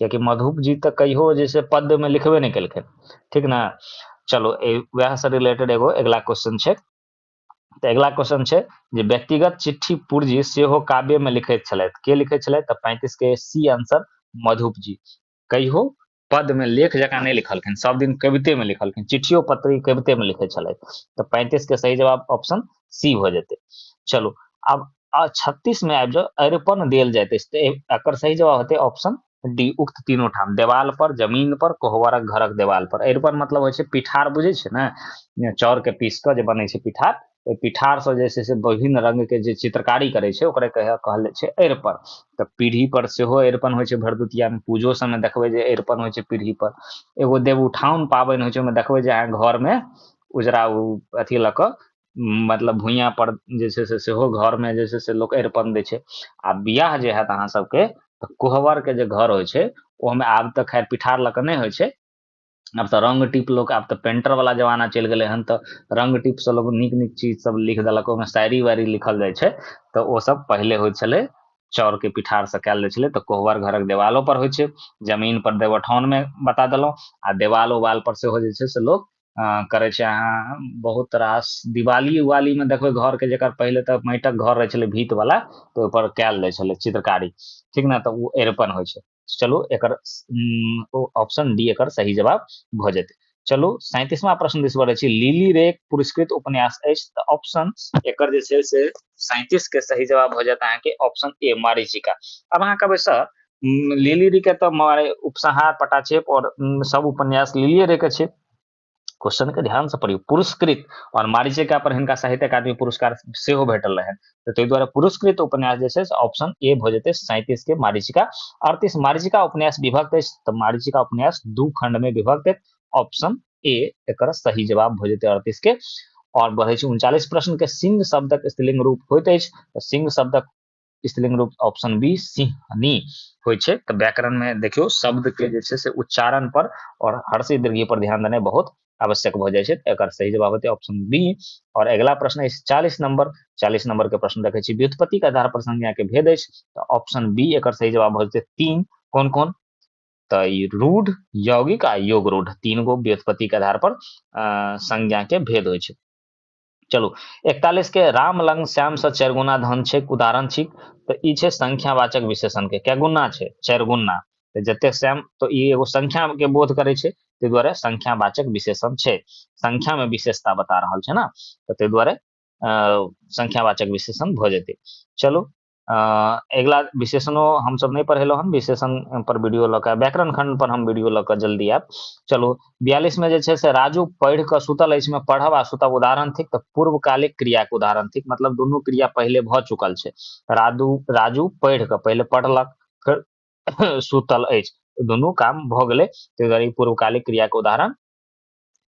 कियाकि मधुप जी तऽ कहियो जे छै पद्य में लिखबे नहि केलखिन ठीक ने चलो वह से रिलेटेड एगो अगला क्वेश्चन छै तऽ अगला क्वेश्चन छै जे व्यक्तिगत चिट्ठी पूर्जी सेहो काव्य में लिखैत छलथि के लिखैत छलथि तऽ पैंतीस के सी आंसर मधुप जी कहियो पद में लेख जकाँ नहि लिखलखिन सब दिन कविते में लिखलखिन चिट्ठियो पत्री कविते में लिखे छलथि तऽ पैंतीस के सही जवाब ऑप्शन सी हो जेते चलो अब आ छत्तीस में आबि जाओ अरिपन देल जाते अकर सही जवाब होते ऑप्शन डी उक्त तीनों ठाम देवाल पर जमीन पर कोहवरक घरक देवाल पर अरिपन मतलब होइ पिठार बुझे छै ने चाउर के पीस के जे बने पिठार ओहि पिठार से जे से विभिन्न रंग के जे चित्रकारी करे छै ओकरे कहे कहल जाए अरिपन तऽ पीढ़ी पर से हो अरिपन होइ भरदुतिया में पूजो सब में देखबे जे अरिपन होइ पीढ़ी पर एगो देव उठाउन पाबनि होइ छै ओहिमे देखबै जे अहाँ घर में उजरा अथी लऽ कऽ मतलब भुइयाँ पर जे छै से सेहो घरमे जे छै से लोक अरिपन दै छै आ बिआह जे होयत अहाँ सबके तऽ कोहबरके जे घर होइ छै ओहिमे आब तऽ खैर पिठार लऽ कऽ नहि होइ छै आब तऽ रङ्ग टीप लोक आब तऽ पेंटरवला जमाना चलि गेलै हन तऽ रङ्ग टीपसँ लोक नीक नीक चीज सब लिख देलक ओहिमे शायरी वायरी लिखल जाइ छै तऽ ओ सब पहिले होइ छलै चाउरके पिठारसँ कयल जाइ छलै तऽ कोहबर घरक देवालो पर होइ छै जमीन पर देवठानमे बता देलहुँ आ देवाल उवाल पर सेहो जे छै से लोक करै छै अहाँ बहुत रास दिवाली उवालीमे देखबै घरके जकर पहिले तऽ माटिक घर रहै छलै भीतवला तऽ ओहिपर कयल जाइ छलै चित्रकारी ठीक ने तऽ ओ एरपन होइ छै चलू एकर ओ ऑप्शन डी एकर सही जवाब भऽ जेतै चलू सैंतीसवा प्रश्न दिस बढ़ै छी लीली रेक पुरस्कृत उपन्यास अछि तऽ ऑप्शन एकर जे छै से सैंतीस के सही जवाब भऽ जायत अहाँके ऑप्शन ए मारिचिका अब अहाँ कहबै सर लिली रे के तऽ मारे उपसंहार पटा छै और सब उपन्यास लिलिए रे के छै क्वेश्चन के ध्यान से पढ़ियौ पुरस्कृत और मारिचिका पर हिनका साहित्य अकादमी पुरस्कार सेहो भेटल रहनि तऽ ताहि दुआरे पुरस्कृत उपन्यास जे छै से ऑप्शन ए भऽ जेतै सैंतीस के मारिचिका अड़तीस मारिचिका उपन्यास विभक्त अछि तऽ मारिचिका उपन्यास दू खंड में विभक्त अछि ऑप्शन ए एक सही जवाब भऽ जेतै अड़तीस के और बढ़े उनचालीस प्रश्न के सिंह शब्दक स्त्रीलिंग रूप होते सिंह शब्दक स्त्रीलिंग रूप ऑप्शन बी सिंहनी होइ छै तऽ व्याकरण में देखियो शब्द के जे छै से उच्चारण पर और हर्षी दीर्घी पर ध्यान देना बहुत आवश्यक भ जाय छै एकर सही जवाब होते ऑप्शन बी और अगला प्रश्न अछि चालीस नंबर चालीस नंबर के प्रश्न देखे छी व्युत्पत्ति के आधार पर संज्ञा के भेद अछि तऽ ऑप्शन बी एकर सही जवाब भ जेतै तीन कोन कोन तऽ रूढ़ यौगिक आ योग रूढ़ तीन गो व्युत्पत्ति के आधार पर संज्ञा के भेद होइ छै चलू एकतालीसके राम लग श्यामसँ चारि गुना धन छै उदाहरण छी तऽ ई छै संख्यावाचक विशेषणके कए गुना छै चारि गुना तऽ जतेक श्याम तऽ ई एगो संख्याके बोध करै छै ताहि दुआरे संख्यावाचक विशेषण छै संख्यामे विशेषता बता रहल छै ने तऽ ताहि दुआरे संख्यावाचक विशेषण भऽ जेतै चलू अगिला विशेषणो हमसभ नहि पढ़ेलहुँ हन विशेषण पर वीडियो लऽ कऽ व्याकरण खंड पर हम वीडियो लऽ कऽ जल्दी आयब चलू बयालीसमे जे छै से राजू पढ़ि कऽ सुतल अछि मे पढ़ब आ सुतब उदाहरण थिक तऽ पूर्वकालिक क्रियाके उदाहरण थिक मतलब दुनू क्रिया पहिले भऽ चुकल छै राजू राजू पढ़ि कऽ पहिले पढ़लक फेर सुतल अछि दुनू काम भऽ गेलै ताहि दुआरे पूर्वकालिक क्रियाके उदाहरण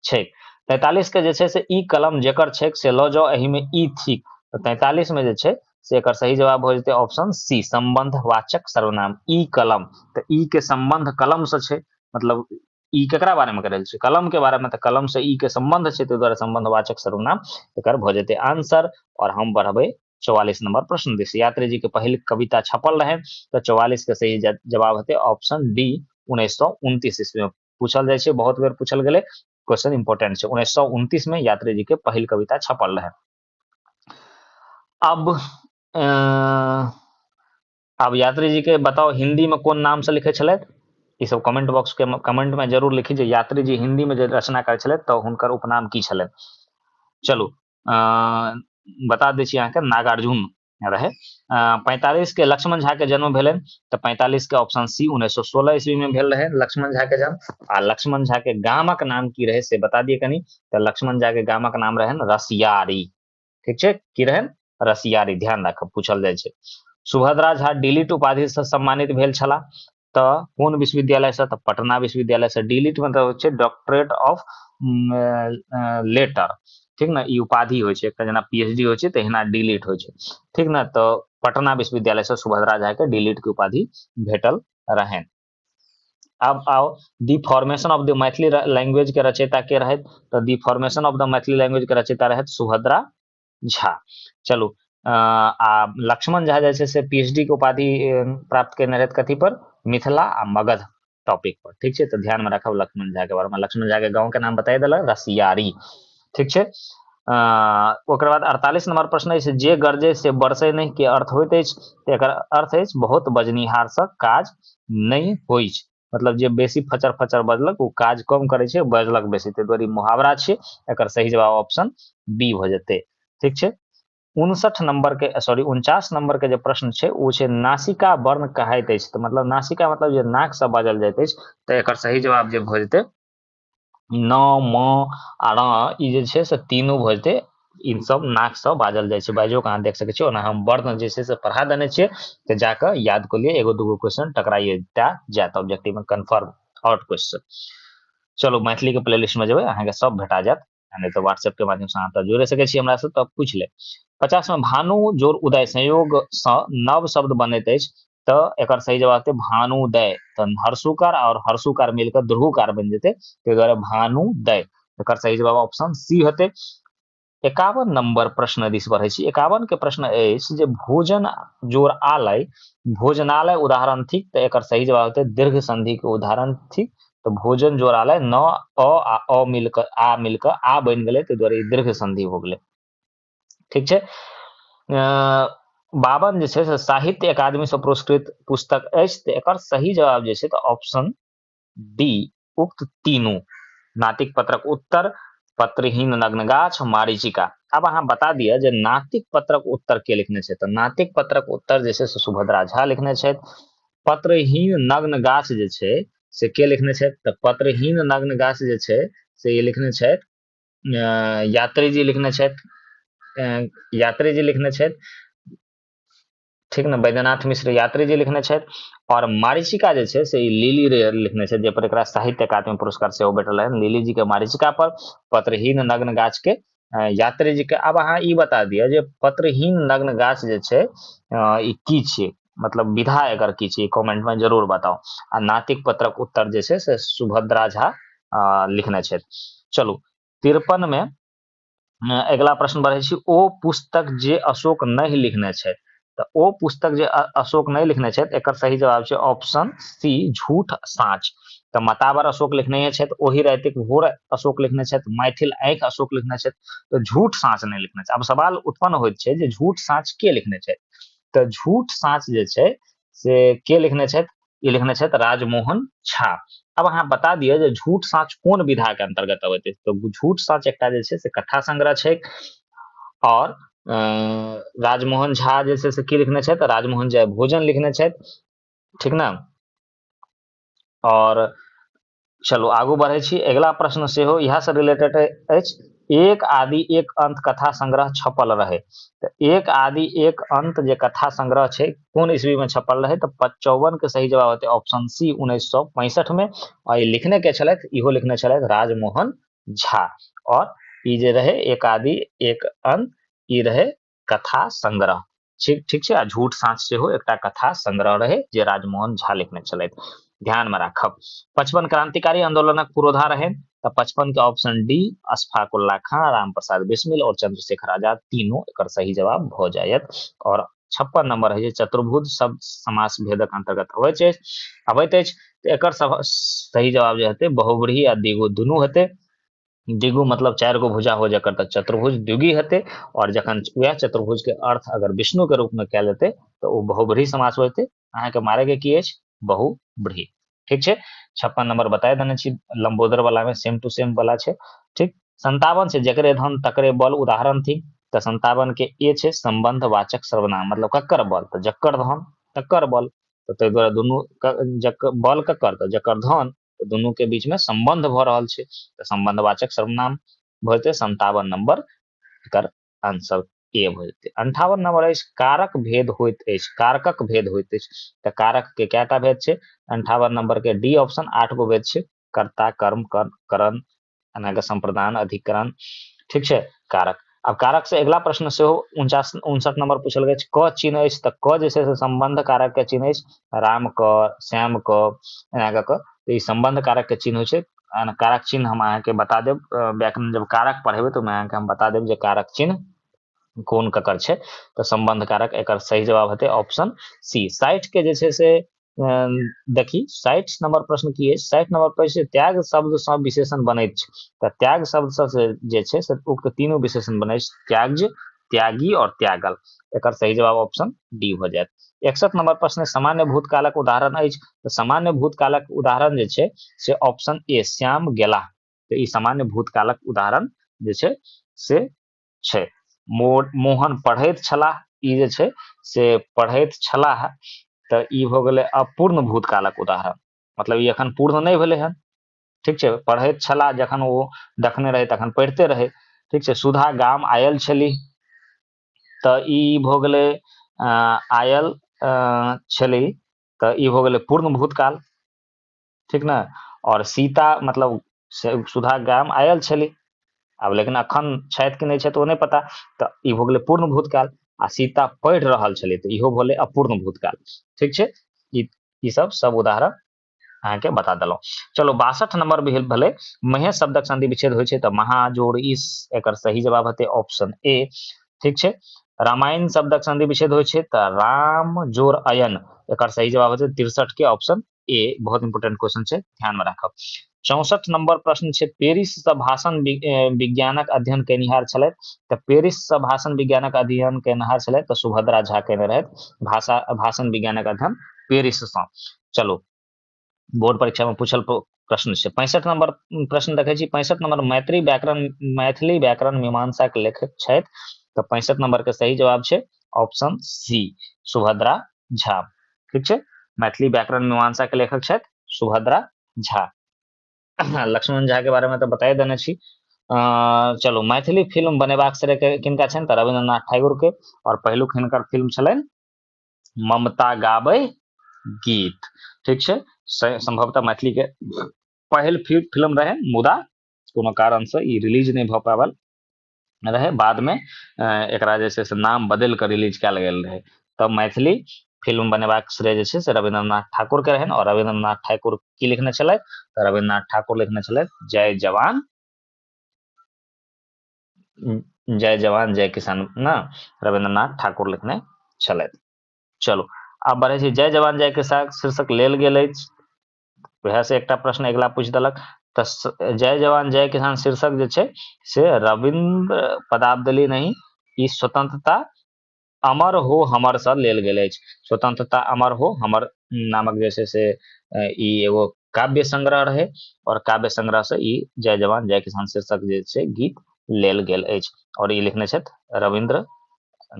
छै तैतालीस के जे छै से ई कलम जेकर छै से लऽ जाउ एहिमे ई थिक तऽ तैतालीस मे जे छै से एकर सही जवाब भऽ जेतै ऑप्शन सी संबंध वाचक सर्वनाम ई कलम तऽ ई के संबंध कलम से छै मतलब ई केकरा बारे में कह रहल छै कलम के बारे में तऽ कलम से ई के संबंध छै ताहि दुआरे संबंध वाचक सर्वनाम एकर भऽ जेतै आंसर और हम बढ़बै चौवालीस नंबर प्रश्न दिस यात्री जी के पहले कविता छपल रहे तो चौवालीस के सही जवाब हेतै ऑप्शन डी उन्नीस सौ उनतीस ईस्वी में पूछल जाइ छै बहुत बेर पूछल गेलै क्वेश्चन इंपॉर्टेंट छै उन्नैस सए उनतीस में यात्री जी के पहिल कविता छपल रहे अब अब यात्री जी के बताओ हिंदी में कौन नाम से लिखे छलथि ई सब कमेंट बॉक्स के कमेंट में जरूर लिखी जे यात्री जी हिंदी में जे रचना करे छलथि तऽ हुनकर उपनाम की छलनि चलू बता दै छी अहाँके नागार्जुन रहै पैंतालीस के लक्ष्मण झा के जन्म भेल तऽ पैंतालीस के ऑप्शन सी उन्नैस सौ सोलह ईस्वी में भेल रहे लक्ष्मण झा के जन्म आ लक्ष्मण झा के गामक नाम की रहे से बता दिए कनी तऽ लक्ष्मण झा के गामक नाम रहे रसियारी ठीक है की रहे रसियारी ध्यान राखब पूछल जाए सुभद्रा झा डिलीट उपाधि से सम्मानित भेल छला तऽ कोन विश्वविद्यालयसँ तऽ पटना विश्वविद्यालयसँ डी लिट मतलब होइ छै डॉक्टरेट ऑफ लेटर ठीक ने ई उपाधि होइ छै एकटा जेना पी एच डी होइ छै तहिना डी लिट होइ छै ठीक ने तऽ पटना विश्वविद्यालयसँ सुभद्रा झाके डी लिटके उपाधि भेटल रहनि आब आओ the formation of the Maithili language के रचयिता के रहथि तऽ the formation of the Maithili language के रचयिता रहथि सुभद्रा झा चलू अ, आ लक्ष्मण झा जे छै से पीएचडी के उपाधि अ, प्राप्त केने रहथि कथी पर मिथिला आ मगध टॉपिक पर ठीक छै तऽ ध्यान में राखब लक्ष्मण झा के बारे में लक्ष्मण झा के गाँव के नाम बताइ देलक रसियारी ठीक छै अ, ओकर बाद अड़तालीस नंबर प्रश्न अछि जे गरजे से बरसे नहि के अर्थ होइत अछि तऽ एकर अर्थ अछि बहुत बजनिहार से काज नहि होइत मतलब जे बेसी फचर फचर बजलक ओ काज कम करै छै बजलक बेसी ताहि दुआरे मुहावरा छियै एकर सही जवाब ऑप्शन बी भऽ जेतै ठीक छै उनसठ नंबर के सॉरी उनचास नंबर के जे प्रश्न छै ओ छै नासिका वर्ण कहाइत अछि तऽ मतलब नासिका मतलब जे नाक से बाजल जाइत अछि तऽ एकर सही जवाब जे भऽ जेतै न म आ र ई जे छै से तीनू भऽ जेतै ई सब नाकसँ बाजल जाइ छै बाजोके अहाँ देख सकै छियै ओना हम वर्ण जे छै से पढ़ा देने छियै तऽ जाकऽ याद कऽ लिअ एगो दूगो क्वेश्चन टकराइए टा जायत ऑब्जेक्टिवमे कन्फर्म आउट क्वेश्चन चलू मैथिलीके प्ले लिस्टमे जेबै अहाँके सब भेटा जायत नहि तऽ व्हाट्सएप के माध्यम से अहाँ तऽ जोड़े सकै छी हमरा से तब पूछ ले पचास में भानु जोर उदय संयोग से नव शब्द बनैत अछि तऽ एकर सही जवाब हेतै भानुदय तऽ हर्षुकार और हर्षुकार मिलकर ध्रुवकार बनि जेतै ताहि दुआरे भानुदय एकर सही जवाब ऑप्शन सी हेतै एकावन नंबर प्रश्न दिस बढ़े छी एकावन के प्रश्न अछि जे भोजन जोर आलय भोजनालय उदाहरण थिक तऽ एकर सही जवाब हेतै दीर्घ संधि के उदाहरण थिक तऽ भोजन जोड़ालय न अ आ अ मिलकर आ मिलकर आ बनि गेलै ताहि दुआरे ई दीर्घ संधि हो गेलै ठीक छै बावन जे छै से साहित्य अकादमीसँ पुरस्कृत पुस्तक अछि तऽ एकर सही जवाब जे छै तऽ ऑप्शन डी उक्त तीनू नातिक पत्रक उत्तर पत्रहीन नग्न गाछ मारिचिका अब अहाँ बता दिअ जे नातिक पत्रक उत्तर के लिखने छै तऽ नातिक पत्रक उत्तर जे छै से सुभद्रा झा लिखने छथि पत्रहीन नग्न गाछ जे छै से के लिखने छथि तऽ पत्रहीन नग्न गाछ जे छै से ई लिखने छथि यात्रीजी लिखने छथि यात्रीजी लिखने छथि ठीक ने बैद्यनाथ मिश्र यात्रीजी लिखने छथि आओर मारिचिका जे छै से ई लीली रे लिखने छथि जाहिपर एकरा साहित्य अकादमी पुरस्कार सेहो भेटल है लीलीजीके मारिचिका पर पत्रहीन नग्न गाछके यात्री जी के आब अहाँ ई बता दिअ जे पत्रहीन नग्न गाछ जे छै ई की छियै मतलब विधा एकर की छियै कमेंट में जरूर बताउ आ नातिक पत्रक उत्तर जे छै से सुभद्रा झा लिखने छथि चलू तिरपन में अगिला प्रश्न बढ़ै छी ओ पुस्तक जे अशोक नहि लिखने छथि तऽ ओ पुस्तक जे अशोक नहि लिखने छथि एकर सही जवाब छै ऑप्शन सी झूठ साँच तऽ मतावर अशोक लिखने छथि ओहि रातिक भोर अशोक लिखने छथि मैथिल आँखि अशोक लिखने छथि तऽ झूठ साँच नहि लिखने छथि आब सवाल उत्पन्न होइत छै जे झूठ साँच के लिखने छथि तऽ झूठ साँच जे छै से के लिखने छथि ई लिखने छथि राजमोहन झा अब अहाँ बता दिअ जे झूठ साँच कोन विधा के अंतर्गत अबैत अछि तऽ झूठ साँच एकटा जे छै से कथा संग्रह छै और राजमोहन झा जे छै से की लिखने छथि राजमोहन झा भोजन लिखने छथि ठीक ने और चलू आगू बढ़ै छी अगिला प्रश्न सेहो इएहसँ रिलेटेड अछि एक आदि एक अंत कथा संग्रह छपल रहै तऽ एक आदि एक अंत जे कथा संग्रह छै कोन ईस्वीमे छपल रहै तऽ चौवनके सही जवाब हेतै ऑप्शन सी उन्नैस सए पैंसठमे आ ई लिखने के छलथि इहो लिखने छलथि राजमोहन झा आओर ई जे रहै एक आदि एक अंत ई रहै कथा संग्रह ठीक ठीक छै आ झूठ साँच सेहो एकटा कथा संग्रह रहै जे राजमोहन झा लिखने छलथि ध्यान में राखब पचपन क्रांतिकारी आंदोलनक पुरोधा रहै तऽ पचपन के ऑप्शन डी अशफाकुल्ला खां राम प्रसाद बिस्मिल और चंद्रशेखर आजाद तीनों एक सही जवाब भ जायत और छप्पन नंबर है चतुर्भुज सब समास भेदक अंतर्गत अबैत अछि अबैत अछि एक सही जवाब जो हेतु बहुब्रीही आ दिगो दुनू हेतु दिगु मतलब चारि गो भुजा हो जकर तऽ चतुर्भुज द्विगी हेतै आओर जखन वएह चतुर्भुज के अर्थ अगर विष्णु के रूप में कयल जेतै तऽ ओ बहुब्रीही समास हो जेतै अहाँके मारे के की अछि बहुब्रीही ठीक छै छप्पन नंबर बताए देने छी लंबोदर वाला में सेम टू सेम वाला छै ठीक संतावन से जकरे धन तकरे बल उदाहरण थी तऽ संतावन के ए छै संबंध वाचक सर्वनाम मतलब ककर बल तऽ जकर धन तकर बल तऽ ताहि दुआरे दुनू जकर बल ककर तऽ जकर धन तऽ दुनू के बीच में संबंध भऽ रहल छै तऽ संबंधवाचक सर्वनाम भऽ जेतै संतावन नंबर एकर आंसर ए भऽ जेतै अंठावन नंबर अछि कारक भेद होइत अछि कारकक भेद होइत अछि तऽ कारक के कएटा भेद छै अंठावन नंबर के डी ऑप्शन आठ गो भेद छै कर्ता कर्म करण एनाके सम्प्रदान अधिकरण ठीक छै कारक अब कारक से अगला प्रश्न से हो उनचास उनसठ नंबर पूछल गए क चिन्ह अछि तऽ क जे छै से संबंध कारक के चिन्ह अछि राम क श्याम क एना कऽ तऽ ई संबंध कारक के चिन्ह छै कारक चिन्ह हम अहाँके बता देब व्याकरण जब कारक पढ़ेबै तऽ अहाँके हम बता देब जे कारक चिन्ह कोन ककर छै तऽ संबंध कारक एकर सही जवाब हेतै ऑप्शन सी साठि के जे छै से देखी साठि नंबर प्रश्न की अछि साठि नंबर प्रश्न त्याग शब्द से विशेषण बने तो त्याग शब्द से जे छै से उक्त तीनों विशेषण बने त्याग त्यागी और त्यागल एक सही जवाब ऑप्शन डी हो जाए एकसठ नंबर प्रश्न सामान्य भूतकालक उदाहरण अछि तो सामान्य भूतकालक उदाहरण जे छै से ऑप्शन ए श्याम गेला तो ई सामान्य भूतकालक उदाहरण जे छै से छै मोहन पढ़ैत छलाह ई जे छै से पढ़ैत छलाह तऽ ई भऽ गेलै अपूर्ण भूतकालक उदाहरण मतलब ई एखन पूर्ण नहि भेलै हन ठीक छै पढ़ैत छलाह जखन ओ देखने रहै तखन पढ़िते रहै ठीक छै सुधा गाम आयल छली तऽ ई भऽ गेलै आयल छली तऽ ई भऽ गेलै पूर्ण भूतकाल ठीक ने आओर सीता मतलब से सुधा गाम आयल छली आब लेकिन अखन छथि कि नहि छथि ओ नहि पता तऽ ई भऽ गेलै पूर्ण भूतकाल आ सीता पढ़ि रहल छली तऽ इहो भेलै अपूर्ण भूतकाल ठीक छै ई ई सब सब उदाहरण अहाँके बता देलहुँ चलो बासठ नंबर भेल भेलै महे शब्दक संधि विच्छेद होइ छै तऽ महाजोड़ इस एकर सही जवाब हेतै ऑप्शन ए ठीक छै रामायण शब्दक संधि विच्छेद होइ छै तऽ राम जोड़ अयन एकर सही जवाब हेतै तिरसठ के ऑप्शन ए बहुत इंपोर्टेंट क्वेश्चन छै ध्यान में राखब चौसठ नंबर प्रश्न छै पेरिस से भाषण विज्ञानक अध्ययन केनिहार छल तो पेरिस से भाषण विज्ञानक अध्ययन केनिहार छल तो सुभद्रा झा केने रहे भाषा भाषण विज्ञानक अध्ययन पेरिस से चलो बोर्ड परीक्षा में पूछल प्रश्न से पैंसठ नंबर प्रश्न देखे छी पैंसठ नंबर मैत्री व्याकरण मैथिली व्याकरण मीमांसा के लेखक छथि तो पैंसठ नंबर के सही जवाब है ऑप्शन सी सुभद्रा झा ठीक छै मैथिली व्याकरण मीमांसा के लेखक छथि सुभद्रा झा लक्ष्मण झा के बारे में तो बताए देने छी चलू मैथिली फिल्म बनेबाक श्रेय किनका छनि तऽ रविन्द्रनाथ ठाकुर के और पहिलुक हिनकर फिल्म छलनि ममता गाबै गीत ठीक छै संभवतः मैथिली के पहिल फिल्म रहे मुदा कोनो कारण से ई रिलीज नहि भऽ पावल रहै बादमे एकरा जे छै से नाम बदलि कऽ रिलीज कयल गेल रहै तब मैथिली फिल्म बनेबाक श्रेय जे छै से रविन्द्रनाथ ठाकुरके रहनि आओर रविन्द्रनाथ ठाकुर की लिखने छलथि तऽ रविन्द्रनाथ ठाकुर लिखने छलथि जय जवान जय जवान जय किसान ने रविन्द्रनाथ ठाकुर लिखने छलथि चलू आब बढ़ै छै जय जवान जय किसान शीर्षक लेल गेल अछि वएह से एकटा प्रश्न अगिला पूछ देलक तऽ जय जवान जय किसान शीर्षक जे छै से रविन्द्र पदाब देली नहीं ई स्वतंत्रता अमर हो हमर से लेल गेल अछि स्वतंत्रता अमर हो हमर नामक जे छै से ई एगो काव्य संग्रह रहे और काव्य संग्रह से ई जय जवान जय किसान शीर्षक जे छै गीत लेल गेल अछि और ई लिखने छथि रविन्द्र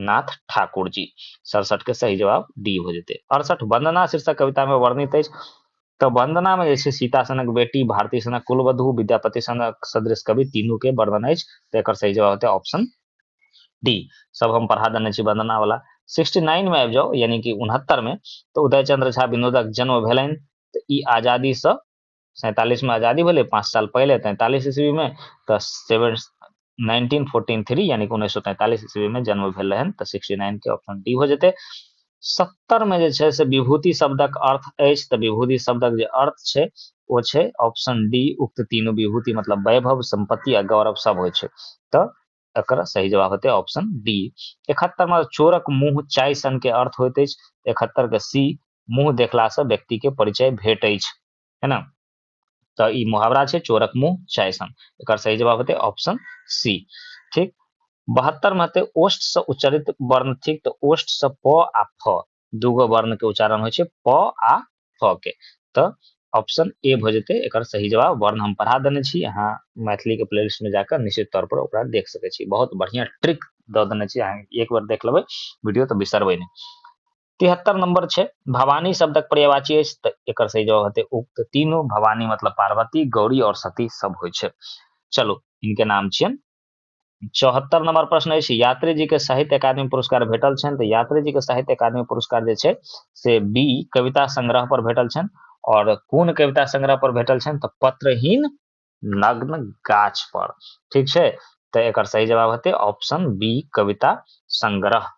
नाथ ठाकुर जी सड़सठ के सही जवाब डी हो जेतै अड़सठ वंदना शीर्षक कविता में वर्णित अछि तऽ वंदना में जे छै सीता सनक बेटी भारती सनक कुलवधु विद्यापति सनक सदृश कवि तीनू के वर्णन अछि तऽ एकर सही जवाब होते ऑप्शन डी सब हम पढ़ा देने छी वंदना वाला सिक्सटी नाइन में आबि जाओ यानी कि उनहत्तर में तऽ उदय चंद्र झा विनोदक जन्म भेलनि तऽ ई आजादी से सैंतालीस में आजादी भेलै पाँच साल पहले तैंतालीस ईस्वी में तऽ सेवन नाइनटीन फोर्टीन थ्री यानी कि उन्नैस सौ तैंतालीस ईस्वी में जन्म भेल रहन तऽ सिक्सटी नाइन के ऑप्शन डी हो जेतै सत्तर में जे छै से विभूति शब्दक अर्थ अछि तऽ विभूति शब्दक जे अर्थ छै ओ छै ऑप्शन डी उक्त तीनू विभूति मतलब वैभव संपत्ति आ गौरव सब होइ छै तऽ एकर सही जवाब हेतै ऑप्शन डी एकहत्तर में चोरक मुंह चाय सन के अर्थ होइत अछि एकहत्तर के सी मुंह देखला से व्यक्ति के परिचय भेट अछि है ना तो ई मुहावरा छै चोरक मुंह चाय सन एकर सही जवाब हेतै ऑप्शन सी ठीक बहत्तर में हेतै ओष्ठ से उच्चरित वर्ण ठीक तो ओष्ठ से प आ फ दूगो वर्ण के उच्चारण होइ छै प आ फ के तऽ ऑप्शन ए भऽ जेतै एकर सही जवाब वर्ण हम पढ़ा देने छी अहाँ मैथिलीके प्ले लिस्टमे जाकऽ निश्चित तौरपर ओकरा देख सकै छी बहुत बढ़िआँ ट्रिक दऽ देने छी अहाँ एक बेर देख लेबै वीडियो तऽ बिसरबै नहि तिहत्तर नंबर छै भवानी शब्दक पर्यावाची अछि तऽ एकर सही जवाब हेतै उक्त तीनू भवानी मतलब पार्वती गौरी और सती सब होइ छै चलू इनके नाम छियनि चौहत्तर नंबर प्रश्न अछि यात्री जी के साहित्य अकादमी पुरस्कार भेटल छनि तऽ यात्री जी के साहित्य अकादमी पुरस्कार जे छै से बी कविता संग्रह पर भेटल छनि और कोन कविता संग्रह पर भेटल छनि तऽ पत्रहीन नग्न गाछ पर ठीक छै तऽ एकर सही जवाब हेतै ऑप्शन बी कविता संग्रह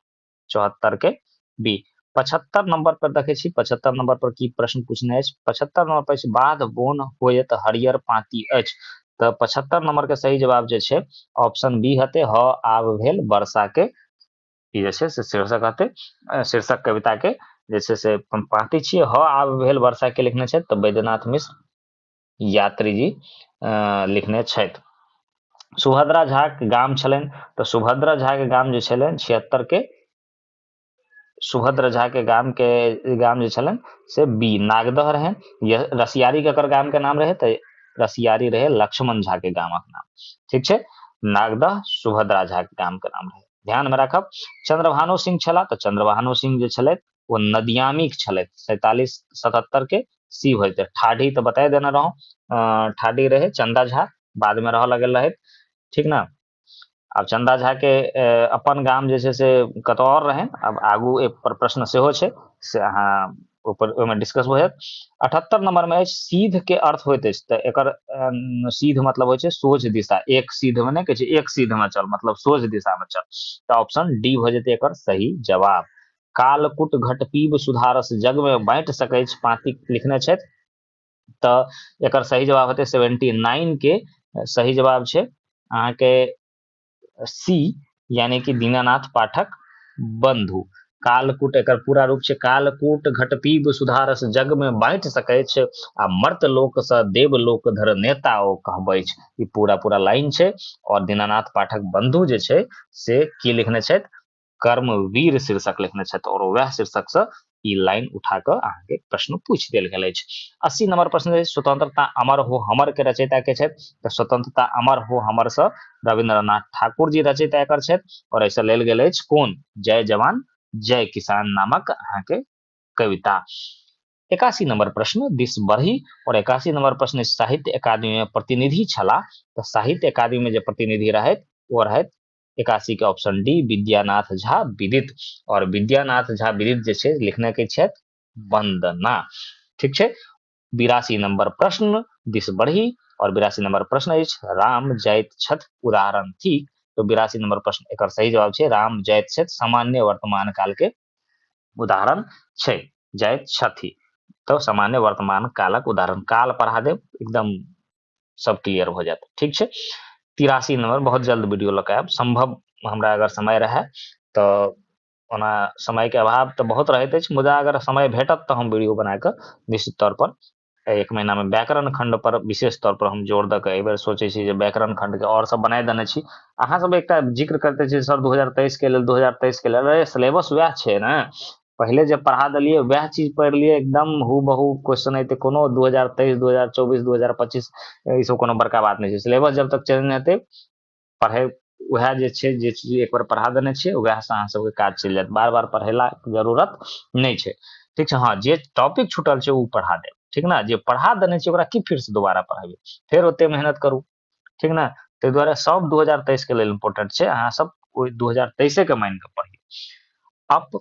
चौहत्तर के बी पचहत्तर नंबर पर देखे छी पचहत्तर नंबर पर की प्रश्न पूछने अछि पचहत्तर नंबर पर अछि बाध बोन होयत हरियर पाती अछि तऽ पचहत्तर नंबर के सही जवाब जे छै ऑप्शन बी हते ह आब भेल वर्षा के ई जे छै से शीर्षक हते शीर्षक कविता के जे छै से पाती छियै ह आब भेल वर्षा के लिखने छै तऽ बैद्यनाथ मिश्र यात्री जी लिखने छथि सुभद्रा झाक गाम छलनि तऽ सुभद्रा झाके गाम जे छलनि छिहत्तरके सुभद्र झाके गामके गाम जे छलनि से बी नागदह रहै रसियारीके एकर गामके नाम रहै तऽ रसियारी रहै लक्ष्मण झाके गामक नाम ठीक छै नागदह सुभद्रा झाके गामके नाम रहै ध्यानमे राखब चंद्रभानु सिंह छलाह तऽ चंद्रभानु सिंह जे छलथि ओ नदियामी छलथि सैतालीस सतहत्तर के सी होइ तऽ ठाढ़ी तऽ बताए देने रहौं ठाढ़ी रहे चंदा झा बाद में रह लगे रहे ठीक ना आब चंदा झा के अपन गाम जे छै से कतौ और रहे अब आगू एक पर प्रश्न सेहो छै से अहाँ ऊपर ओहिमे डिस्कस भऽ जायत अठहत्तर नंबर में अछि सीध के अर्थ होइत अछि तऽ एकर सीध मतलब होइ छै सोझ दिशा एक सीध में नहि कहै छै एक सीध में चल मतलब सोझ दिशा में चल तऽ ऑप्शन डी भऽ जेतै एकर सही जवाब कालकुट घट पीब सुधारस जगमे बाँटि सकैत अछि पाँति लिखने छथि तऽ एकर सही जवाब हेतै सेवेंटी नाइनके सही जवाब छै अहाँके सी यानी कि दीनानाथ पाठक बंधु कालकूट एकर पूरा रूप छै कालकूट घटपीब सुधारस जग में बांटि सकै छै आ मर्त लोक से देव लोक धर नेता ओ कहबै छै ई पूरा पूरा लाइन छै और दीनानाथ पाठक बंधु जे छै से की लिखने छथि कर्म वीर शीर्षक लिखने छथि और वह शीर्षक से ई लाइन उठा कऽ अहाँके प्रश्न पूछ देल गेल अछि अस्सी नंबर प्रश्न अछि स्वतंत्रता अमर हो हमर के रचयिता के छथि तऽ स्वतंत्रता अमर हो हमर से रविन्द्रनाथ ठाकुर जी रचयिता एकर छथि और ऐसे लेल गेल अछि कोन जय जवान जय किसान नामक अहाँके कविता एकासी नंबर प्रश्न दिस बढ़ी और एकासी नंबर प्रश्न साहित्य अकादमी में प्रतिनिधि छला तो साहित्य अकादमी में जो प्रतिनिधि रहे वो रहे एकासी के ऑप्शन डी विद्यानाथ झा विदित और विद्यानाथ झा विदित जे छै लिखने के छथि वंदना ठीक छै बिरासी नंबर प्रश्न दिस बढ़ी और बिरासी नंबर प्रश्न अछि राम जाइत छथि उदाहरण थिक तो बिरासी नंबर प्रश्न एक सही जवाब है राम जाइत छथि सामान्य वर्तमान काल के उदाहरण छै जाइत छथि तऽ सामान्य वर्तमान कालक उदाहरण काल पढ़ा देब एकदम सब क्लियर भऽ जायत ठीक छै तिरासी नंबर बहुत जल्द वीडियो लऽ कऽ आयब सम्भव हमरा अगर समय रहए तऽ ओना समयके अभाव तऽ बहुत रहैत अछि मुदा अगर समय भेटत तऽ हम वीडियो बना कऽ निश्चित तौर पर एक महीना में व्याकरण खंड पर विशेष तौर पर हम जोर दऽ कऽ बेर सोचै छी जे व्याकरण खंड के और सब बनाय देने छी अहाँ सब एकटा जिक्र करते छी सर 2023 के लेल 2023 के लेल अरे सिलेबस वएह छै ने पहिले जे पढ़ा देलिए वएह चीज पढ़ि लिए एकदम हु बहु क्वेश्चन एते कोनो 2023 2024 2025 ई सब कोनो बड़का बात नहि छै सिलेबस जब तक चेंज नहि हेतै पढ़ै उएह जे छै जे चीज एक बेर पढ़ा देने छियै उएहसँ अहाँ सबके काज चलि जायत बार बार पढ़ेलाके जरूरत नहि छै ठीक छै हँ जे टॉपिक छूटल छै ओ पढ़ा देब ठीक ने जे पढ़ा देने छियै ओकरा की फेरसँ दोबारा पढ़ेबै फेर ओते मेहनत करू ठीक ने ताहि दुआरे सब दू हजार तेइसके लेल इम्पोर्टेंट छै अहाँ सब ओहि दू हजार तेइसेके मानि कऽ पढ़ियौ अप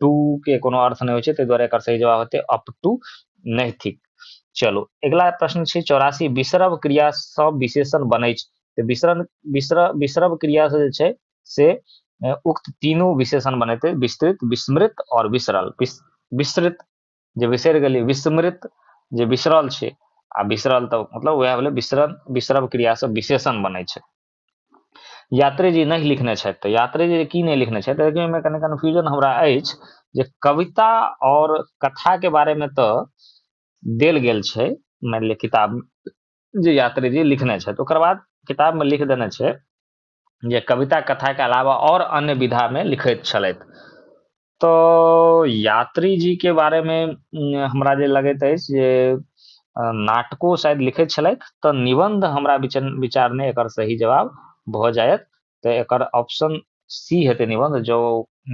टू के कोनो अर्थ नहि होइ छै ताहि दुआरे एकर सही जवाब हेतै अप टू नहि थिक चलू अगिला प्रश्न छै चौरासी विसरब क्रियासँ विशेषण बनै छै तऽ विसरण विसर विसरब क्रियासँ जे छै से उक्त तीनू विशेषण बनेतै विस्तृत विस्मृत आओर विसरल विस्तृत जे बिसरि गेलियै विस्मृत जे बिसरल छै आ बिसरल तऽ मतलब उएह भेलै विसरण विसरब क्रियासँ विशेषण बनै छै यात्री जी नहि लिखने छथि तऽ यात्री जी की नहि लिखने छथि लेकिन ओहिमे कनि कन्फ्यूजन हमरा अछि जे कविता आओर कथाके बारेमे तऽ देल गेल छै मानि लिअ किताब जे यात्री जी लिखने छथि ओकर बाद किताबमे लिख देने छै जे कविता कथाके अलावा आओर अन्य विधामे लिखैत छलथि तऽ यात्री जी के बारे में उम, हमरा जे लगैत अछि जे अ, नाटको शायद लिखैत छलथि तऽ निबंध हमरा विचार विचार में एकर सही जवाब भऽ जायत तऽ एकर ऑप्शन सी हेतै निबंध जो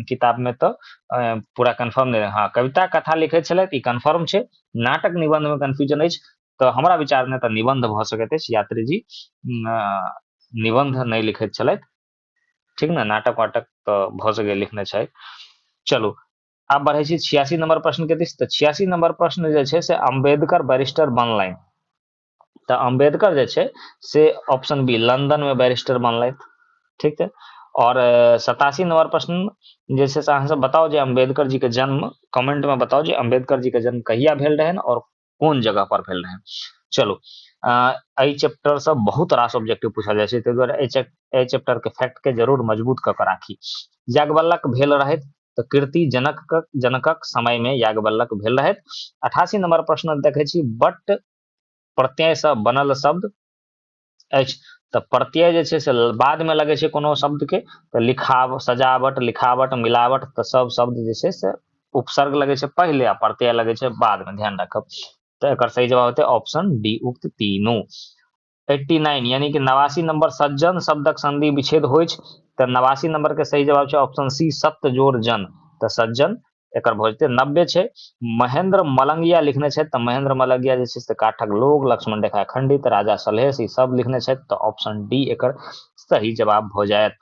किताब में तऽ अ, पूरा कन्फर्म नहि हँ कविता कथा लिखैत छलथि ई कन्फर्म छै नाटक निबंध में कन्फ्यूजन अछि तऽ हमरा विचार में तऽ निबंध भऽ सकैत अछि यात्री जी उम, अ, निबंध नहि लिखैत छलथि ठीक ने नाटक वाटक तऽ भऽ सके लिखने छै चलू आब बढ़ै छी छियासी नंबर प्रश्न के दिस तऽ छियासी नंबर प्रश्न जे छै से अम्बेडकर बैरिस्टर बनलनि तऽ अम्बेडकर जे छै से ऑप्शन बी लंदन में बैरिस्टर बनलथि ठीक छै और सतासी नंबर प्रश्न जे छै से अहाँ सब बताउ जे अम्बेडकर जी के जन्म कमेंट में बताउ जे अम्बेडकर जी के जन्म कहिया भेल रहनि और कोन जगह पर भेल रहै चलू एहि चैप्टरसँ बहुत रास ऑब्जेक्टिव पूछल जाइ छै ताहि दुआरे एहि चैप्टरके फैक्टके जरूर मजबूत कऽ कऽ राखी याज्ञवल्लक भेल रहथि तऽ कीर्ति जनक जनकक समयमे याज्ञवल्लक भेल रहथि अठासी नंबर प्रश्न देखै छी बट प्रत्ययसँ बनल शब्द अछि तऽ प्रत्यय जे छै से बादमे लगै छै कोनो शब्दके तऽ लिखाव सजावट लिखावट मिलावट तऽ सब शब्द जे छै से उपसर्ग लगै छै पहिले आ प्रत्यय लगै छै बादमे ध्यान राखब तऽ एकर सही जवाब हेतै ऑप्शन डी उक्त तीनू एट्टी नाइन यानी कि नवासी नंबर सज्जन शब्दक संधि विच्छेद होइ तऽ नवासी नंबरके सही जवाब छै ऑप्शन सी सत्य जोर जन तऽ सज्जन एकर भऽ जेतै नब्बे छै महेंद्र मलंगिया लिखने छथि तऽ महेंद्र मलंगिया जे छै से काठक लोग लक्ष्मण रेखा खंडित राजा सलहेश ई सब लिखने छथि तऽ ऑप्शन डी एकर सही जवाब भऽ जायत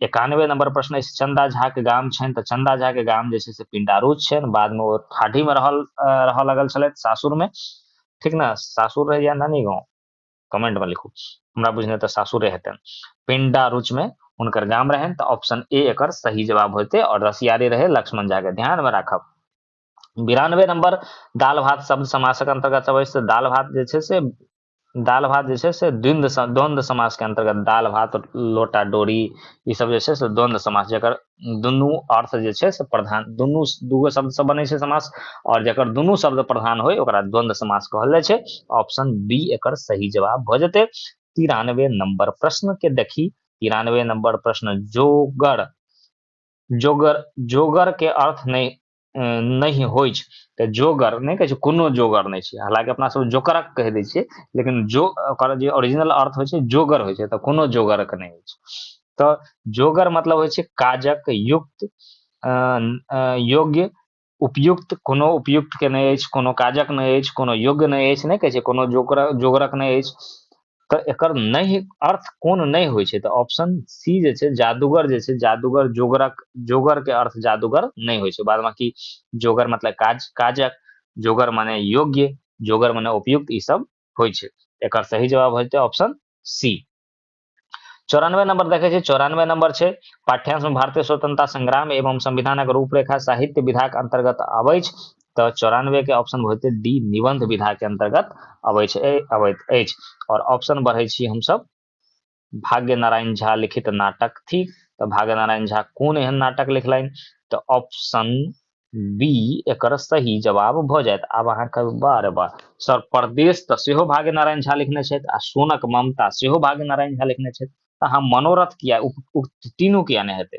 एकानवे नंबर प्रश्न अछि चंदा झा के गाम छनि तऽ चंदा झा के गाम जे छै से पिंडारूच छनि बादमे ओ ठाढ़ीमे रहल रहऽ लगल छलथि सासुरमे ठीक ने सासुर रहैया नानी गाँव कमेंट में लिखू हमरा बुझने तो सासुरे हेतन पिंडा रुच में उनकर गाम रहन तो ऑप्शन ए एक सही जवाब होते और रसियारे रहे लक्ष्मण झा के ध्यान में राखब बिरानवे नंबर दाल भात शब्द समासक अंतर्गत अबै से दाल भात जे छै से दाल भात जे छै से द्वंद्व द्वंद्व समास के अंतर्गत दाल भात लोटा डोरी ई सब जे छै से द्वंद्व समास जकर दुनू अर्थ जे छै से प्रधान दुनू दूगो शब्दसँ बनै छै समास आओर जकर दुनू शब्द प्रधान होय ओकरा द्वंद्व समास कहल जाइ छै ऑप्शन बी एकर सही जवाब भऽ जेतै तिरानवे नंबर प्रश्न के देखी तिरानवे नंबर प्रश्न जोगर जोगर जोगर के अर्थ नहीं नहि होइ छै तऽ जोगर नहि कहै छै कोनो जोगर नहि छै हालाँकि अपना सब जोकरक कहि दै छियै लेकिन जो ओकर जे ओरिजिनल अर्थ होइ छै जोगर होइ छै तऽ कोनो जोगरक नहि होइ छै तऽ जोगर मतलब होइ छै काजक युक्त योग्य उपयुक्त कोनो उपयुक्तके नहि अछि कोनो काजक नहि अछि कोनो योग्य नहि अछि नहि कहै छै कोनो जोकर जोगरक नहि अछि तऽ एकर नहि अर्थ कोन नहि होइ छै तऽ ऑप्शन सी जे छै जादूगर जे छै जादूगर जोगरक जोगरके अर्थ जादूगर नहि होइ छै बाद बाँकी जोगर मतलब काज काजक जोगर मने योग्य जोगर मने उपयुक्त ई सब होइ छै एकर सही जवाब हेतै ऑप्शन सी चौरानवे नंबर देखे छी चौरानवे नंबर छे पाठ्यांश में भारतीय स्वतंत्रता संग्राम एवं संविधानक रूपरेखा साहित्य विधाक अंतर्गत अबै तऽ चौरानवे के ऑप्शन होते डी निबंध विधा के अंतर्गत अवैत अवैत अछि और ऑप्शन बढ़े छी हम सब भाग्य नारायण झा लिखित नाटक थी तो भाग्य नारायण झा कौन एहन नाटक लिखल तो ऑप्शन बी एक सही जवाब भ जाए आब अहाँ कह बार बार सर प्रदेश तो सेहो भाग्य नारायण झा लिखने आ सोनक ममता सेहो भाग्य नारायण झा लिखने अहाँ मनोरथ किया उक्त तीनू किया नहीं हेतु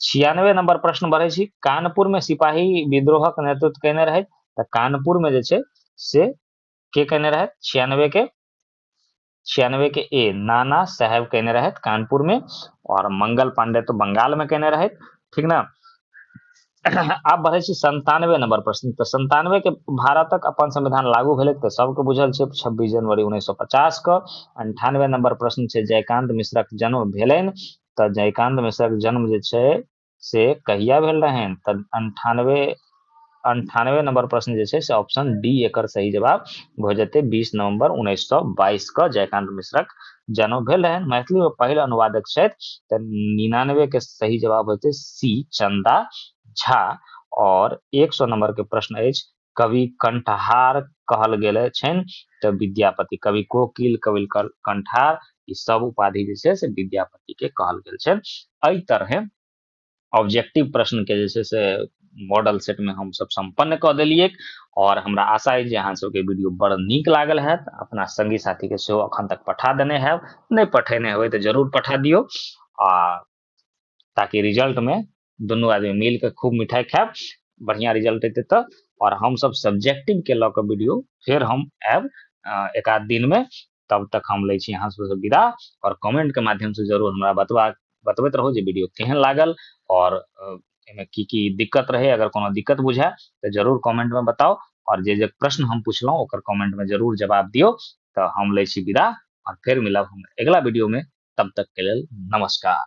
छियानवे नंबर प्रश्न बढ़े छी कानपुर में सिपाही विद्रोहक नेतृत्व केने रहे तो कानपुर में जे से के केने रहे छियानवे के छियानवे के ए नाना साहेब केने रहे कानपुर में और मंगल पांडे तो बंगाल में केने रहे ठीक ना आप बढ़े छी संतानवे नंबर प्रश्न तो संतानवे के भारतक अपन संविधान लागू भेल तो सबके बुझल छै छब्बीस जनवरी उन्नैस सौ पचास के अंठानवे नंबर प्रश्न छै जयकांत मिश्रक जन्म भेलनि तऽ जयकान्त मिश्रक जन्म जे छै से कहिया भेल रहनि तऽ अंठानवे अंठानवे नंबर प्रश्न जे छै से ऑप्शन डी एकर सही जवाब भऽ जेतै बीस नवंबर उन्नैस सए बाईस के जयकान्त मिश्रक जन्म भेल रहनि मैथिली मे पहिल अनुवादक छथि तऽ निनानवे के सही जवाब होते सी चंदा झा और एक सौ नंबर के प्रश्न अछि कवि कंठहार कहल गेल छनि तऽ विद्यापति कवि कोकिल कवि कंठार ई सब उपाधि जे छै से विद्यापति के कहल गेल छै एहि तरहे ऑब्जेक्टिव प्रश्न के जे छै से मॉडल सेट में हम सब संपन्न कऽ देलियै और हमरा आशा है जे अहाँ सबके वीडियो बड़ नीक लागल है अपना संगी साथी के सेहो अखन तक पठा देने है नहि पठेने हेबै तऽ जरूर पठा दियौ आ ताकि रिजल्ट में दुनू आदमी मिल कऽ खूब मिठाइ खायब बढ़िआँ रिजल्ट अयतै तऽ आओर हमसभ सब्जेक्टिवके लऽ कऽ वीडियो फेर हम आयब एक आध दिनमे तब तक हम लै छी अहाँ सबसँ विदा आओर कमेंटके माध्यमसँ जरूर हमरा बतबा बतबैत रहू जे वीडियो केहन लागल आओर एहिमे की की दिक्कत रहै अगर कोनो दिक्कत बुझाय तऽ जरूर कमेंटमे बताउ आओर जे जे प्रश्न हम पुछलहुँ ओकर कमेंटमे जरूर जवाब दियौ तऽ हम लै छी विदा आओर फेर मिलब हम अगिला वीडियोमे तब तकके लेल नमस्कार